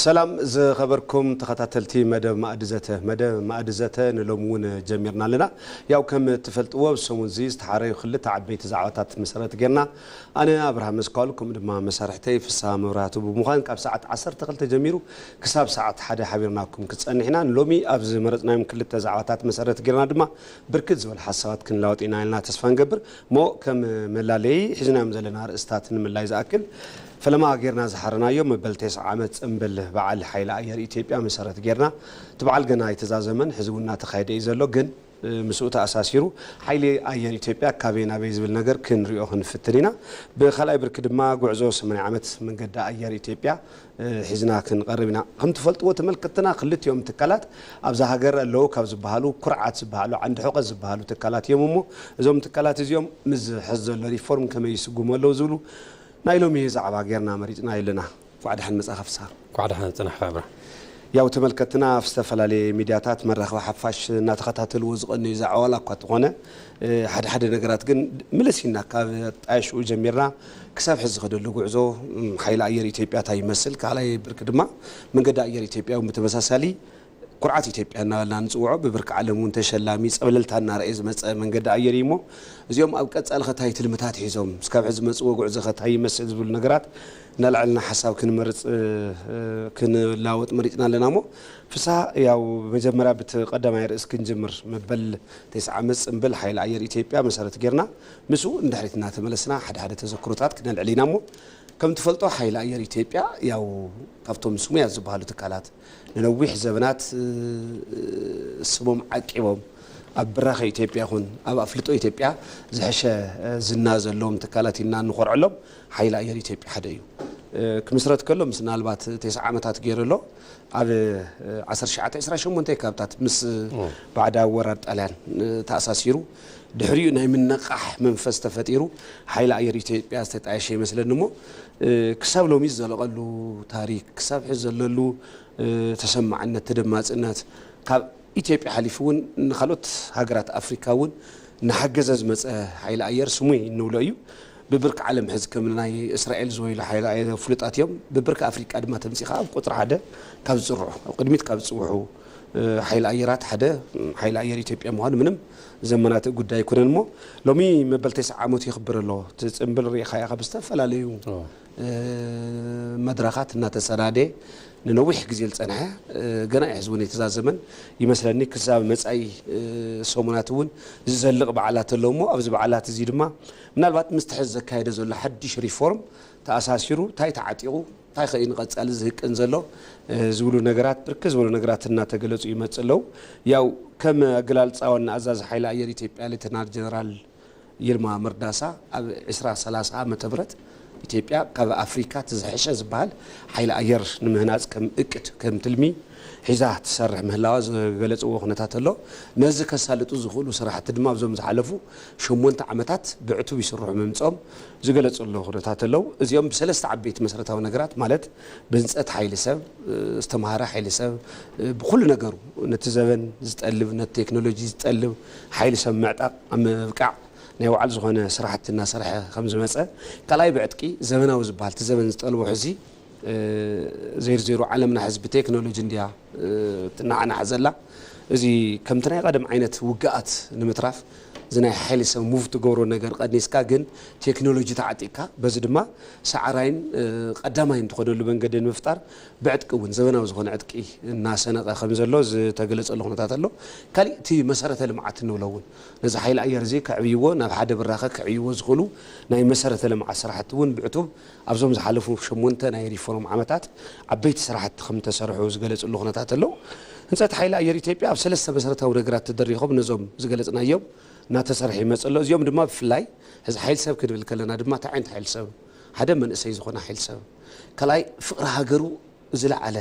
ሰላም ዝኸበርኩም ተኸታተልቲ መደብ ማእዲ ዘተ መደብ ማእዲ ዘተ ንሎሚ እውን ጀሚርና ኣለና ያው ከም እትፈልጥዎ ኣብ ሰሙን እዚ ዝተሓረዩ ክልተ ዓበይቲ ዛዕባታት መሰረት ጌርና ኣነ ኣብርሃ መስኳል ከምኡ ድማ መሳርሕተይ ፍስሃ መብራህቱ ብምዃን ካብ ሰዓት 12 ጀሚሩ ክሳብ ሰዓት ሓደ ሓቢርናኩም ክፀንሕ ኢና ንሎሚ ኣብ ዝመረፅናዮም ክልተ ዛዕባታት መሰረት ጌርና ድማ ብርክት ዝበሉ ሓሳባት ክንለዋወጥ ኢና ኢልና ተስፋ ንገብር እሞ ከም መላለዪ ሒዝናዮም ዘለና ኣርእስታት ንምላይ ዝኣክል፣ ፈለማ ጌርና ዝሓረናዮ መበል ቴስዓ ዓመት ጽምብል በዓል ሓይሊ ኣየር ኢትዮጵያ መሰረት ጌርና፣ እቲ በዓል ገና ኣይተዛዘመን፣ ሕዚ እውን እናተኻየደ እዩ ዘሎ፣ ግን ምስኡ ተኣሳሲሩ ሓይሊ ኣየር ኢትዮጵያ ካበይ ናበይ ዝብል ነገር ክንሪኦ ክንፍትን ኢና። ብካልኣይ ብርኪ ድማ ጉዕዞ ሰማንያ ዓመት መንገዲ ኣየር ኢትዮጵያ ሒዝና ክንቐርብ ኢና። ከም ትፈልጥዎ ተመልከትትና ክልቲኦም ትካላት ኣብዛ ሃገር ኣለዉ ካብ ዝበሃሉ ኩርዓት ዝበሃሉ ዓንዲ ሑቐ ዝበሃሉ ትካላት እዮም እሞ እዞም ትካላት እዚኦም ምስዚ ሕዚ ዘሎ ሪፎርም ከመይ ይስጉሙ ኣለዉ ዝብሉ ናይ ሎሚ ዛዕባ ገይርና መሪፅናዮ ኣለና። እንኳዕ ደሓን መፃኻ ፍስሃ። እንኳዕ ደሓን ፅናሕካ ኣብርሃም። ያው ተመልከትትና ኣብ ዝተፈላለየ ሚድያታት መራኸቢ ሓፋሽ እናተኸታተልዎ ዝቐነዩ ዛዕባ ዋላ እኳ ተኾነ ሓደ ሓደ ነገራት ግን ምልስ ኢልና ካብ ኣጣየሽኡ ጀሚርና ክሳብ ሕዚ ዝኸደሉ ጉዕዞ ሓይሊ ኣየር ኢትዮጵያ እንታይ ይመስል፣ ካልኣይ ብርኪ ድማ መንገዲ ኣየር ኢትዮጵያ እውን ብተመሳሳሊ ኩርዓት ኢትዮጵያ እናበልና ንፅውዖ ብብርኪ ዓለም እውን ተሸላሚ ፀብለልታ እናርኣየ ዝመፀ መንገዲ ኣየር እዩ እሞ እዚኦም ኣብ ቀፃሊ ከ እንታይ ትልምታት ሒዞም እስካብ ሕዚ ዝመፅእዎ ጉዕዞ ከ እንታይ ይመስል ዝብሉ ነገራት እናልዐልና ሓሳብ ክንመርፅ ክንለዋወጥ መሪፅና ኣለና እሞ ፍስሃ ያው መጀመሪያ ብቲ ቀዳማይ ርእስ ክንጅምር መበል ቴስዓ ዓመት ፅምብል ሓይሊ ኣየር ኢትዮጵያ መሰረት ገይርና ምስኡ ንድሕሪት እናተመለስና ሓደ ሓደ ተዘክሮታት ክነልዕል ኢና እሞ ከም ትፈልጦ ሓይሊ ኣየር ኢትዮጵያ ያው ካብቶም ስሙያት ዝበሃሉ ትካላት ንነዊሕ ዘበናት ስሞም ዓቂቦም ኣብ ብራኸ ኢትዮጵያ ይኹን ኣብ ኣፍልጦ ኢትዮጵያ ዝሕሸ ዝና ዘለዎም ትካላት ኢልና እንኾርዐሎም ሓይሊ ኣየር ኢትዮጵያ ሓደ እዩ። ክምስረት ከሎ ምስ ናልባት ቴስዓ ዓመታት ገይሩ ኣሎ ኣብ ዓሰርተ ትሽዓተ ዕስራን ሸሞንተን ከባብታት ምስ ባዕዳዊ ወራር ጣልያን ተኣሳሲሩ ድሕሪኡ ናይ ምንቕቓሕ መንፈስ ተፈጢሩ ሓይሊ ኣየር ኢትዮጵያ ዝተጣየሸ ይመስለኒ እሞ ክሳብ ሎሚ ዝዘለቐሉ ታሪክ ክሳብ ሕዚ ዘለሉ ተሰማዕነት ተደማፅነት ካብ ኢትዮጵያ ሓሊፉ እውን ንካልኦት ሃገራት ኣፍሪካ እውን እናሓገዘ ዝመፀ ሓይሊ ኣየር ስሙይ እንብሎ እዩ ብብርኪ ዓለም ሕዚ ከም ናይ እስራኤል ዝበሉ ሓይሊ ኣየር ፍሉጣት እዮም ብብርኪ ኣፍሪቃ ድማ ተምፂኻ ኣብ ቁፅሪ ሓደ ካብ ዝፅርዑ ኣብ ቅድሚት ካብ ዝፅውሑ ሓይሊ ኣየራት ሓደ ሓይሊ ኣየር ኢትዮጵያ ምዃኑ ምንም ዘመናትእ ጉዳይ ኣይኮነን እሞ ሎሚ መበል ተስዓ ዓመቱ የኽብር ኣሎ እቲ ፅምብል ሪኢኻያ ካብ ዝተፈላለዩ መድረኻት እናተሰናደ ንነዊሕ ግዜ ዝፀንሐ ገና እዩ ሕዚ እውን የተዛዘመን ይመስለኒ ክሳብ መፃኢ ሰሙናት እውን ዝዘልቕ በዓላት ኣሎ እሞ ኣብዚ በዓላት እዚ ድማ ምናልባት ምስ ትሕዚ ዘካየደ ዘሎ ሓድሽ ሪፎርም ተኣሳሲሩ እንታይ ተዓጢቑ እንታይ ከ እዩ ንቐፃሊ ዝህቅን ዘሎ ዝብሉ ነገራት ብርክት ዝበሉ ነገራት እናተገለፁ ይመፅእ ኣለው። ያው ከም ኣገላልፃ ዋና ኣዛዚ ሓይሊ ኣየር ኢትዮጵያ ሌተናል ጀነራል ይልማ መርዳሳ ኣብ ዕስራ ሰላሳ ዓመተ ምህረት ኢትዮጵያ ካብ ኣፍሪካ እቲ ዝሐሸ ዝበሃል ሓይሊ ኣየር ንምህናፅ ከም እቅድ ከም ትልሚ ሒዛ ትሰርሕ ምህላዋ ዝገለፅዎ ኩነታት ኣሎ። ነዚ ከሳልጡ ዝኽእሉ ስራሕቲ ድማ ኣብዞም ዝሓለፉ ሸሞንተ ዓመታት ብዕቱብ ይስርሑ ምምጽኦም ዝገለጽሉ ኩነታት ኣለው። እዚኦም ብሰለስተ ዓበይቲ መሰረታዊ ነገራት ማለት ብህንጸት ሓይሊ ሰብ፣ ዝተማህረ ሓይሊ ሰብ፣ ብኹሉ ነገሩ ነቲ ዘበን ዝጠልብ ነቲ ቴክኖሎጂ ዝጠልብ ሓይሊ ሰብ ምዕጣቕ ኣብ ምብቃዕ ናይ ባዕሉ ዝኾነ ስራሕቲ እናሰርሐ ከምዝመጸ፣ ካልኣይ ብዕጥቂ ዘበናዊ ዝበሃል እቲ ዘበን ዝጠልቦ ሕዚ፣ ዜርዜሩ ዓለምና ሕዚ ብቴክኖሎጂ እንድያ ትነዓናሕ ዘላ። እዚ ከምቲ ናይ ቐደም ዓይነት ውግኣት ንምትራፍ እዚ ናይ ሓይሊ ሰብ ሙቭ ትገብሮ ነገር ቐኒስካ ግን ቴክኖሎጂ ተዓጢቕካ በዚ ድማ ሰዓራይን ቐዳማይን ትኾነሉ መንገዲ ንምፍጣር ብዕጥቂ እውን ዘበናዊ ዝኾነ ዕጥቂ እናሰነቐ ከምዘሎ ዝተገለፀሉ ኩነታት ኣሎ። ካሊእ እቲ መሰረተ ልምዓት እንብሎ እውን ነዚ ሓይሊ ኣየር እዚ ከዕብይዎ ናብ ሓደ ብራኸ ከዕይዎ ዝኽእሉ ናይ መሰረተ ልምዓት ስራሕቲ እውን ብዕቱብ ኣብዞም ዝሓለፉ ሸሞንተ ናይ ሪፎርም ዓመታት ዓበይቲ ስራሕቲ ከምዝተሰርሑ ዝገለፅሉ ኩነታት ኣሎ። ህንፀት ሓይሊ ኣየር ኢትዮጵያ ኣብ ሰለስተ መሰረታዊ ነገራት ተደሪኾም ነዞም ዝገለፅናዮም እናተሰርሐ ይመፅእ ኣሎ። እዚኦም ድማ ብፍላይ ሕዚ ሓይሊ ሰብ ክንብል ከለና ድማ እንታይ ዓይነት ሓይሊ ሰብ? ሓደ መንእሰይ ዝኾነ ሓይሊ ሰብ፣ ካልኣይ ፍቕሪ ሃገሩ ዝለዓለ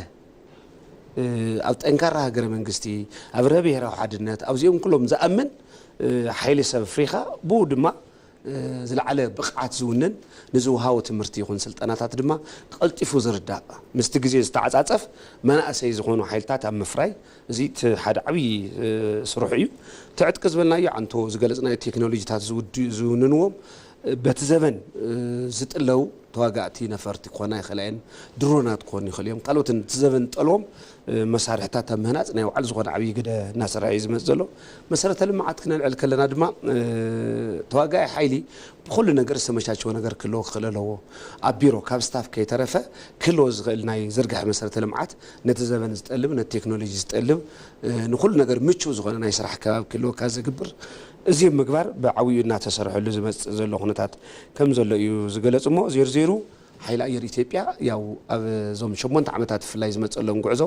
ኣብ ጠንካራ ሃገረ መንግስቲ፣ ኣብ ርሀ ብሄራዊ ሓድነት ኣብዚኦም ኩሎም ዝኣምን ሓይሊ ሰብ ኣፍሪኻ ብኡ ድማ ዝለዓለ ብቕዓት ዝውንን፣ ንዝወሃቦ ትምህርቲ ይኹን ስልጠናታት ድማ ቐልጢፉ ዝርዳእ፣ ምስቲ ግዜ ዝተዓጻጸፍ መናእሰይ ዝኾኑ ሓይልታት ኣብ ምፍራይ፣ እዚ እቲ ሓደ ዓብዪ ስርሑ እዩ። እቲ ዕጥቂ ዝበልናዮ ዓንቶ ዝገለጽናዮ ቴክኖሎጂታት ዝውንንዎም በቲ ዘበን ዝጥለው ተዋጋእቲ ነፈርቲ ክኾና ይኽእላ እየን፣ ድሮናት ክኾኑ ይኽእሉ እዮም፣ ካልኦትን እቲ ዘበን ዝጠልቦም መሳርሕታት ኣብ ምህናፅ ናይ ባዕሉ ዝኾነ ዓብዪ ግደ እናሰርሐ እዩ ዝመፅእ ዘሎ። መሰረተ ልምዓት ክነልዕል ከለና ድማ ተዋጋኢ ሓይሊ ብኹሉ ነገር ዝተመቻቸወ ነገር ክህልዎ ክኽእል ኣለዎ። ኣብ ቢሮ ካብ ስታፍ ከይተረፈ ክህልዎ ዝኽእል ናይ ዝርግሐ መሰረተ ልምዓት ነቲ ዘበን ዝጠልብ ነቲ ቴክኖሎጂ ዝጠልብ ንኹሉ ነገር ምቹው ዝኾነ ናይ ስራሕ ከባቢ ክህልወካ ዝግብር እዚ ኣብ ምግባር ብዓብይኡ እናተሰርሐሉ ዝመፅእ ዘሎ ኩነታት ከምዘሎ እዩ ዝገለፁ እሞ ዜሩ ዜሩ ሓይሊ ኣየር ኢትዮጵያ ያው ኣብ ዞም ሸሞንተ ዓመታት ብፍላይ ዝመፀሎም ጉዕዞ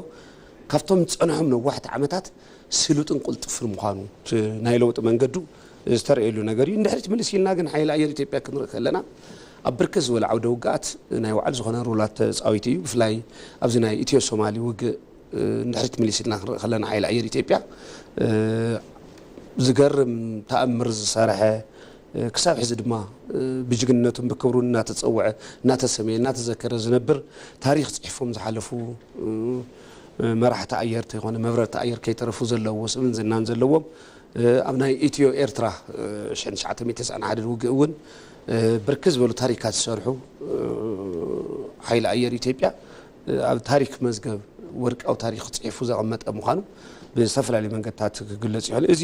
ካብቶም ዝፀንሖም ነዋሕቲ ዓመታት ስሉጥን ቁልጥፍን ምዃኑ እቲ ናይ ለውጢ መንገዱ ዝተረእየሉ ነገር እዩ። ንድሕሪት ምልስ ኢልና ግን ሓይሊ ኣየር ኢትዮጵያ ክንርኢ ከለና ኣብ ብርክት ዝበሉ ዓውደ ውግኣት ናይ ባዕሉ ዝኾነ ሮላት ተፃዊቱ እዩ። ብፍላይ ኣብዚ ናይ ኢትዮ ሶማሊ ውግእ ንድሕሪት ምልስ ኢልና ክንርኢ ከለና ሓይሊ ኣየር ኢትዮጵያ ዝገርም ተኣምር ዝሰርሐ ክሳብ ሕዚ ድማ ብጅግንነቱን ብክብሩን እናተፀወዐ፣ እናተሰምየ፣ እናተዘከረ ዝነብር ታሪኽ ፅሒፎም ዝሓለፉ መራሕቲ ኣየር ተይኮነ መብረርቲ ኣየር ከይተረፉ ዘለዎ ስምን ዝናን ዘለዎም ኣብ ናይ ኢትዮ ኤርትራ ሽሕን ትሽዓተ ሚእቲ ዕስራን ሓደን ውግእ እውን ብርክት ዝበሉ ታሪካት ዝሰርሑ ሓይሊ ኣየር ኢትዮጵያ ኣብ ታሪክ መዝገብ ወርቃዊ ታሪክ ፅሒፉ ዘቐመጠ ምዃኑ ብዝተፈላለዩ መንገድታት ክግለፅ ይኽእል። እዚ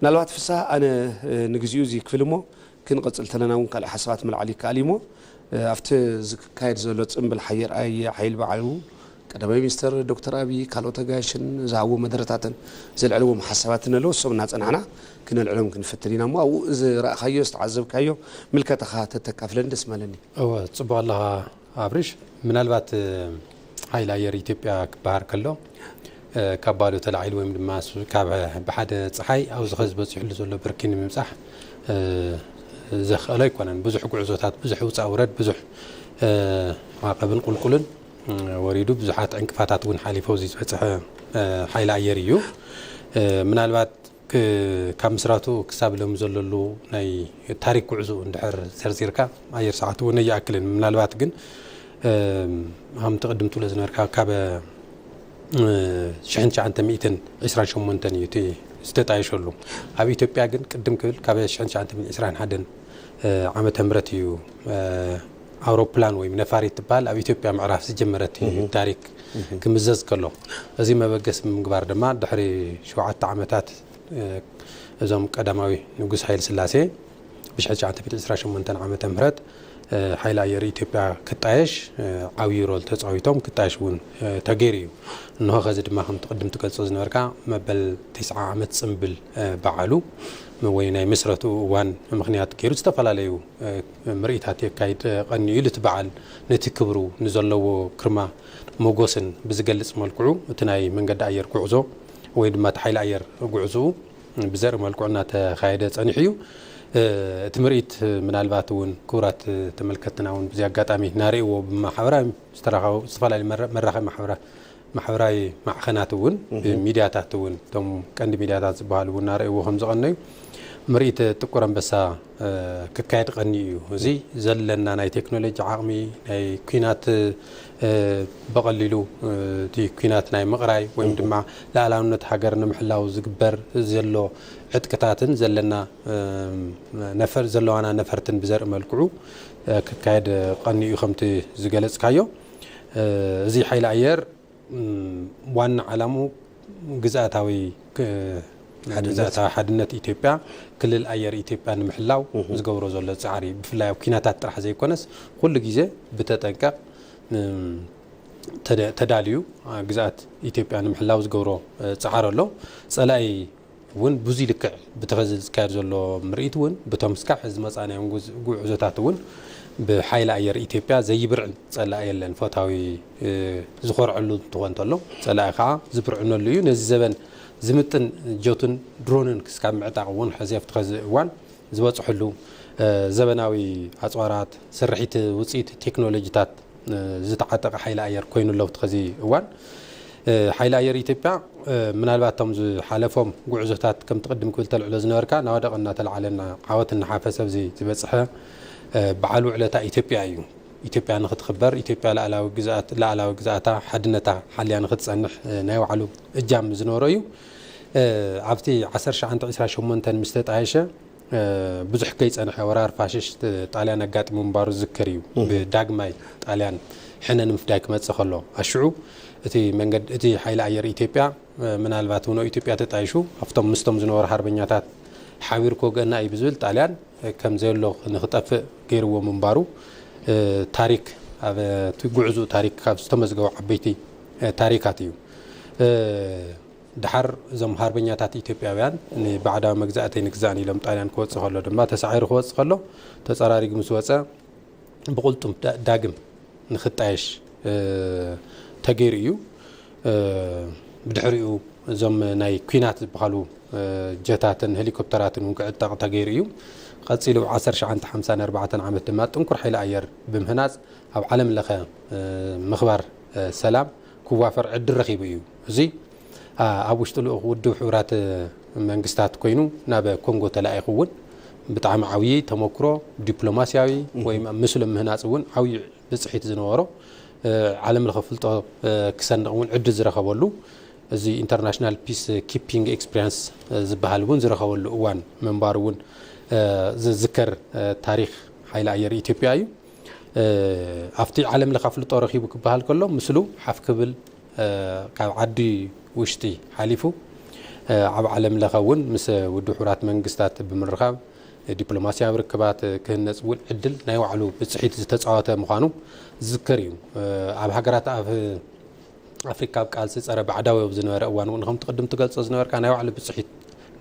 ምናልባት ፍስሃ ኣነ ንግዚኡ እዚ ክፍሊ እሞ ክንቕጽል ተለና እውን ካልእ ሓሳባት ምልዓል ይከኣል እዩ እሞ ኣብቲ ዝካየድ ዘሎ ጽንብል ሓየር ኣየ ሓይል ባዕሉ ቀዳማይ ሚኒስተር ዶክተር ኣብይ ካልኦት ኣጋይሽን ዝሃብዎ መደረታትን ዘልዕልዎም ሓሳባትን ኣለዉ እሶም እናጸናሕና ክነልዕሎም ክንፈትን ኢና እሞ ኣብኡ ዝረእኻዮ ዝተዓዘብካዮ ምልከታኻ ተተካፍለኒ ደስ ምበለኒ። እወ ጽቡቕ ኣለኻ ኣብርሽ ምናልባት ሓይሊ ኣየር ኢትዮጵያ ክበሃል ከሎ ካብ ባዶ ተላዒሉ ወይም ድማ ካብ ብሓደ ፀሓይ ኣብዚ ኸዚ በፂሕሉ ዘሎ ብርኪ ንምብፃሕ ዘኽእሎ ኣይኮነን። ብዙሕ ጉዕዞታት፣ ብዙሕ ውፃ ውረድ፣ ብዙሕ ማዕቐብን ቁልቁልን ወሪዱ ብዙሓት ዕንቅፋታት እውን ሓሊፎ እዚ ዝበፅሐ ሓይሊ ኣየር እዩ ምናልባት ካብ ምስራቱ ክሳብ ሎሚ ዘለሉ ናይ ታሪክ ጉዕዝኡ እንድሕር ዘርዚርካ ኣየር ሰዓት እውን ኣይኣክልን ምናልባት ግን ሃምቲ ቅድም ትብሎ ዝነበርካ ካበ ሽሕን ትሽዓንተ ሚእትን ዕስራን ሸሞንተን እዩ እቲ ዝተጣየሸሉ ኣብ ኢትዮጵያ ግን ቅድም ክብል ካበ ሽሕን ትሽዓንተ ሚእትን ዕስራን ሓደን ዓመተ ምህረት እዩ ኣውሮፕላን ወይም ነፋሪት ትበሃል ኣብ ኢትዮጵያ ምዕራፍ ዝጀመረት እዩ ታሪክ ክምዘዝ ከሎ። እዚ መበገሲ ብምግባር ድማ ድሕሪ ሸውዓተ ዓመታት እዞም ቀዳማዊ ንጉስ ሃይልስላሴ ብሽሕን ትሽዓተ ሚእትን ዕስራን ሸሞንተን ዓመተ ምህረት ሓይሊ ኣየር ኢትዮጵያ ክጣየሽ ዓብዩ ሮል ተፃዊቶም ክጣየሽ እውን ተገይሩ እዩ። እንሆ ከዚ ድማ ከምቲ ቅድም ትገልፆ ዝነበርካ መበል ቲስዓ ዓመት ፅምብል በዓሉ ወይ ናይ ምስረትኡ እዋን ምኽንያት ገይሩ ዝተፈላለዩ ምርኢታት የካይድ ቐንዩ ኢሉ እቲ በዓል ነቲ ክብሩ ንዘለዎ ግርማ ሞጎስን ብዝገልፅ መልክዑ እቲ ናይ መንገዲ ኣየር ጉዕዞ ወይ ድማ እቲ ሓይሊ ኣየር ጉዕዝኡ ብዘርኢ መልክዑ እናተኻየደ ፀኒሑ እዩ እቲ ምርኢት ምናልባት እውን ክቡራት ተመልከትትና እውን ብዚ ኣጋጣሚ ናርእይዎ ብማሕበራዊ ዝተራኸቡ ዝተፈላለዩ መራኸቢ ማሕበራ ማሕበራዊ ማዕኸናት እውን ሚድያታት እውን እቶም ቀንዲ ሚድያታት ዝበሃሉ እውን እናረእይዎ ከም ዝቐነዩ ምርኢት ጥቁር ኣንበሳ ክካየድ ቀንዩ እዩ። እዚ ዘለና ናይ ቴክኖሎጂ ዓቕሚ ናይ ኩናት ብቐሊሉ እቲ ኩናት ናይ ምቕራይ ወይም ድማ ላእላውነት ሃገር ንምሕላው ዝግበር ዘሎ ዕጥቅታትን ዘለና ነፈር ዘለዋና ነፈርትን ብዘርኢ መልክዑ ክካየድ ቀንዩ ከምቲ ዝገለጽካዮ እዚ ሓይሊ ኣየር ዋና ዓላምኡ ግዝኣታዊ ሓድነት ኢትዮጵያ ክልል ኣየር ኢትዮጵያ ንምሕላው ዝገብሮ ዘሎ ፃዕሪ ብፍላይ ኣብ ኩናታት ጥራሕ ዘይኮነስ ኩሉ ግዜ ብተጠንቀቕ ተዳልዩ ግዝኣት ኢትዮጵያ ንምሕላው ዝገብሮ ፃዕሪ ኣሎ ፀላኢ ውን ብዙይ ልክዕ ብቲ ኸዚ ዝካየድ ዘሎ ምርኢት ውን ብቶም ስካብ ሕዚ ዝመፃእናዮም ጉዕዞታት ውን ብሓይሊ ኣየር ኢትዮጵያ ዘይብርዕ ፀላኢ የለን ፈታዊ ዝኾርዐሉ እንትኾን ተሎ ፀላኢ ኸዓ ዝብርዕነሉ እዩ ነዚ ዘበን ዝምጥን ጀቱን ድሮንን ክስካብ ምዕጣቕ ውን ሕዚ ኣብቲ ኸዚ እዋን ዝበፅሕሉ ዘበናዊ ኣፅዋራት ስርሒት ውፅኢት ቴክኖሎጂታት ዝተዓጠቐ ሓይሊ ኣየር ኮይኑ ኣሎ ትከዚ እዋን። ሓይሊ ኣየር ኢትዮጵያ ምናልባት እቶም ዝሓለፎም ጉዕዞታት ከምቲ ቅድም ክብል ተልዕሎ ዝነበርካ ናወደቐ እናተልዓለ እና ዓወት እናሓፈሰ ኣብዚ ዝበፅሐ በዓል ውዕለታ ኢትዮጵያ እዩ። ኢትዮጵያ ንክትኽበር ኢትዮጵያ ላእላዊ ግዝኣት ላእላዊ ግዝኣታ ሓድነታ ሓልያ ንክትፀንሕ ናይ ባዕሉ እጃም ዝነበሮ እዩ። ኣብቲ ዓሰርተ ሸዓንተ ዒስራ ሸሞንተን ምስ ተጣየሸ ብዙሕ ከይጸንሐ ወራር ፋሽስት ጣልያን ኣጋጢሙ ምንባሩ ዝዝከር እዩ። ብዳግማይ ጣልያን ሕነ ንምፍዳይ ክመጽእ ከሎ። ኣሽዑ እቲ መንገድ እቲ ሓይሊ ኣየር ኢትዮጵያ ምናልባት ውኖ ኢትዮጵያ ተጣይሹ ኣብቶም ምስቶም ዝነበሩ ሓርበኛታት ሓቢሩ ክወግኣና እዩ ብዝብል ጣልያን ከም ዘየሎ ንክጠፍእ ገይርዎ ምንባሩ ታሪክ ኣብ እቲ ጉዕዝኡ ታሪክ ካብ ዝተመዝገቡ ዓበይቲ ታሪካት እዩ። ደሓር እዞም ሃርበኛታት ኢትዮጵያውያን ንባዕዳዊ መግዛእቲ ኣይንግዛእን ኢሎም ጣልያን ክወጽእ ከሎ ድማ ተሳዒሩ ክወጽእ ከሎ ተጸራሪጉ ምስ ወጸ ብቕልጡም ዳግም ንክጣየሽ ተገይሩ እዩ። ብድሕሪኡ እዞም ናይ ኩናት ዝበሃሉ ጀታትን ሄሊኮፕተራትን እውን ክዕጠቕ ተገይሩ እዩ። ቀጺሉ ኣብ ዓሰርተ ሸዓንተ ሓምሳን ኣርባዕተን ዓመት ድማ ጥንኩር ሓይሊ ኣየር ብምህናጽ ኣብ ዓለም ለኸ ምኽባር ሰላም ክዋፈር ዕድል ረኺቡ እዩ። እዚ ኣብ ውሽጢ ልኡኽ ውድብ ሕቡራት መንግስታት ኮይኑ ናብ ኮንጎ ተላኢኹ እውን ብጣዕሚ ዓብዪ ተሞክሮ ዲፕሎማስያዊ ወይ ምስሉ ምህናፅ እውን ዓብዪ ብፅሒት ዝነበሮ ዓለም ለኸ ፍልጦ ክሰንቕ እውን ዕድል ዝረኸበሉ እዚ ኢንተርናሽናል ፒስ ኪፒንግ ኤክስፒሪንስ ዝበሃል እውን ዝረኸበሉ እዋን ምንባሩ እውን ዝዝከር ታሪክ ሓይሊ ኣየር ኢትዮጵያ እዩ። ኣብቲ ዓለም ለኸ ኣፍልጦ ረኺቡ ክበሃል ከሎ ምስሉ ሓፍ ክብል ካብ ዓዲ ውሽጢ ሓሊፉ ኣብ ዓለም ለኸ እውን ምስ ውድብ ሕቡራት መንግስታት ብምርኻብ ዲፕሎማሲያዊ ርክባት ክህነፅ እውን ዕድል ናይ ባዕሉ ብፅሒት ዝተፃወተ ምዃኑ ዝዝከር እዩ። ኣብ ሃገራት ኣብ ኣፍሪካ ኣብ ቃልሲ ፀረ ባዕዳዊ ኣብ ዝነበረ እዋን እውን ከምቲ ቅድም ትገልፆ ዝነበርካ ናይ ባዕሉ ብፅሒት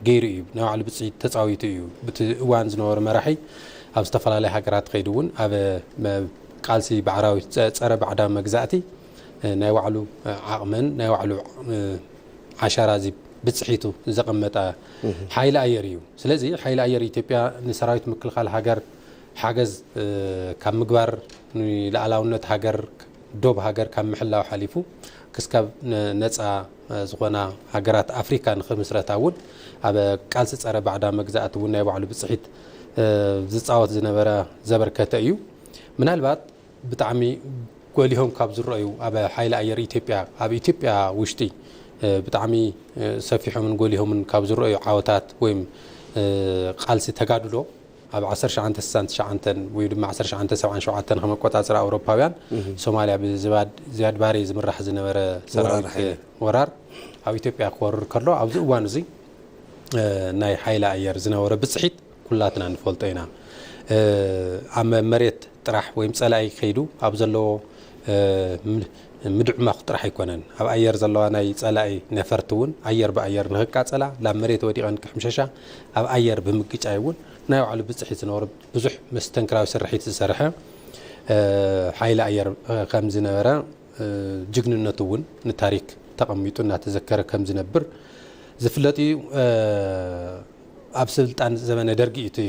ገይሩ እዩ ናይ ባዕሉ ብፅሒት ተፃዊቱ እዩ ብቲ እዋን ዝነበሩ መራሒ ኣብ ዝተፈላለዩ ሃገራት ከይዱ እውን ኣብ ቃልሲ ባዕራዊ ፀረ ባዕዳዊ መግዛእቲ ናይ ባዕሉ ዓቕመን ናይ ባዕሉ ዓሻራ እዚ ብፅሒቱ ዘቐመጠ ሓይሊ ኣየር እዩ። ስለዚ ሓይሊ ኣየር ኢትዮጵያ ንሰራዊት ምክልኻል ሃገር ሓገዝ ካብ ምግባር ንልኣላውነት ሃገር ዶብ ሃገር ካብ ምሕላው ሓሊፉ ክስካብ ነፃ ዝኾና ሃገራት ኣፍሪካ ንክምስረታ እውን ኣብ ቃልሲ ፀረ ባዕዳ መግዛእቲ እውን ናይ ባዕሉ ብፅሒት ዝፃወት ዝነበረ ዘበርከተ እዩ ምናልባት ብጣዕሚ ጎሊሆም ካብ ዝረኣዩ ኣብ ሓይሊ ኣየር ኢትዮጵያ ኣብ ኢትዮጵያ ውሽጢ ብጣዕሚ ሰፊሖምን ጎሊሆምን ካብ ዝረኣዩ ዓወታት ወይም ቃልሲ ተጋድሎ ኣብ ዓሰርተ ሸዓንተ ስሳን ትሽዓንተን ወይ ድማ ዓሰርተ ሸዓንተ ሰብዓን ሸውዓተን ከም ኣቆጻጽራ ኣውሮፓውያን ሶማልያ ብዝባድ ዚያድ ባሬ ዝምራሕ ዝነበረ ሰራዊት ወራር ኣብ ኢትዮጵያ ክወርር ከሎ ኣብዚ እዋን እዚ ናይ ሓይሊ ኣየር ዝነበረ ብጽሒት ኩላትና ንፈልጦ ኢና ኣብ መሬት ጥራሕ ወይም ጸላኢ ከይዱ ኣብ ዘለዎ ምድዕማኹ ጥራሕ ኣይኮነን ኣብ ኣየር ዘለዋ ናይ ጸላኢ ነፈርቲ እውን ኣየር ብኣየር ንክቃጸላ ላብ መሬት ወዲቐን ክሕምሸሻ ኣብ ኣየር ብምግጫይ እውን ናይ ባዕሉ ብጽሒት ዝነበሮ ብዙሕ መስተንክራዊ ስርሒት ዝሰርሐ ሓይሊ ኣየር ከም ዝነበረ ጅግንነቱ እውን ንታሪክ ተቐሚጡ እናተዘከረ ከም ዝነብር ዝፍለጥ እዩ። ኣብ ስልጣን ዘበነ ደርጊ እዩ እቲ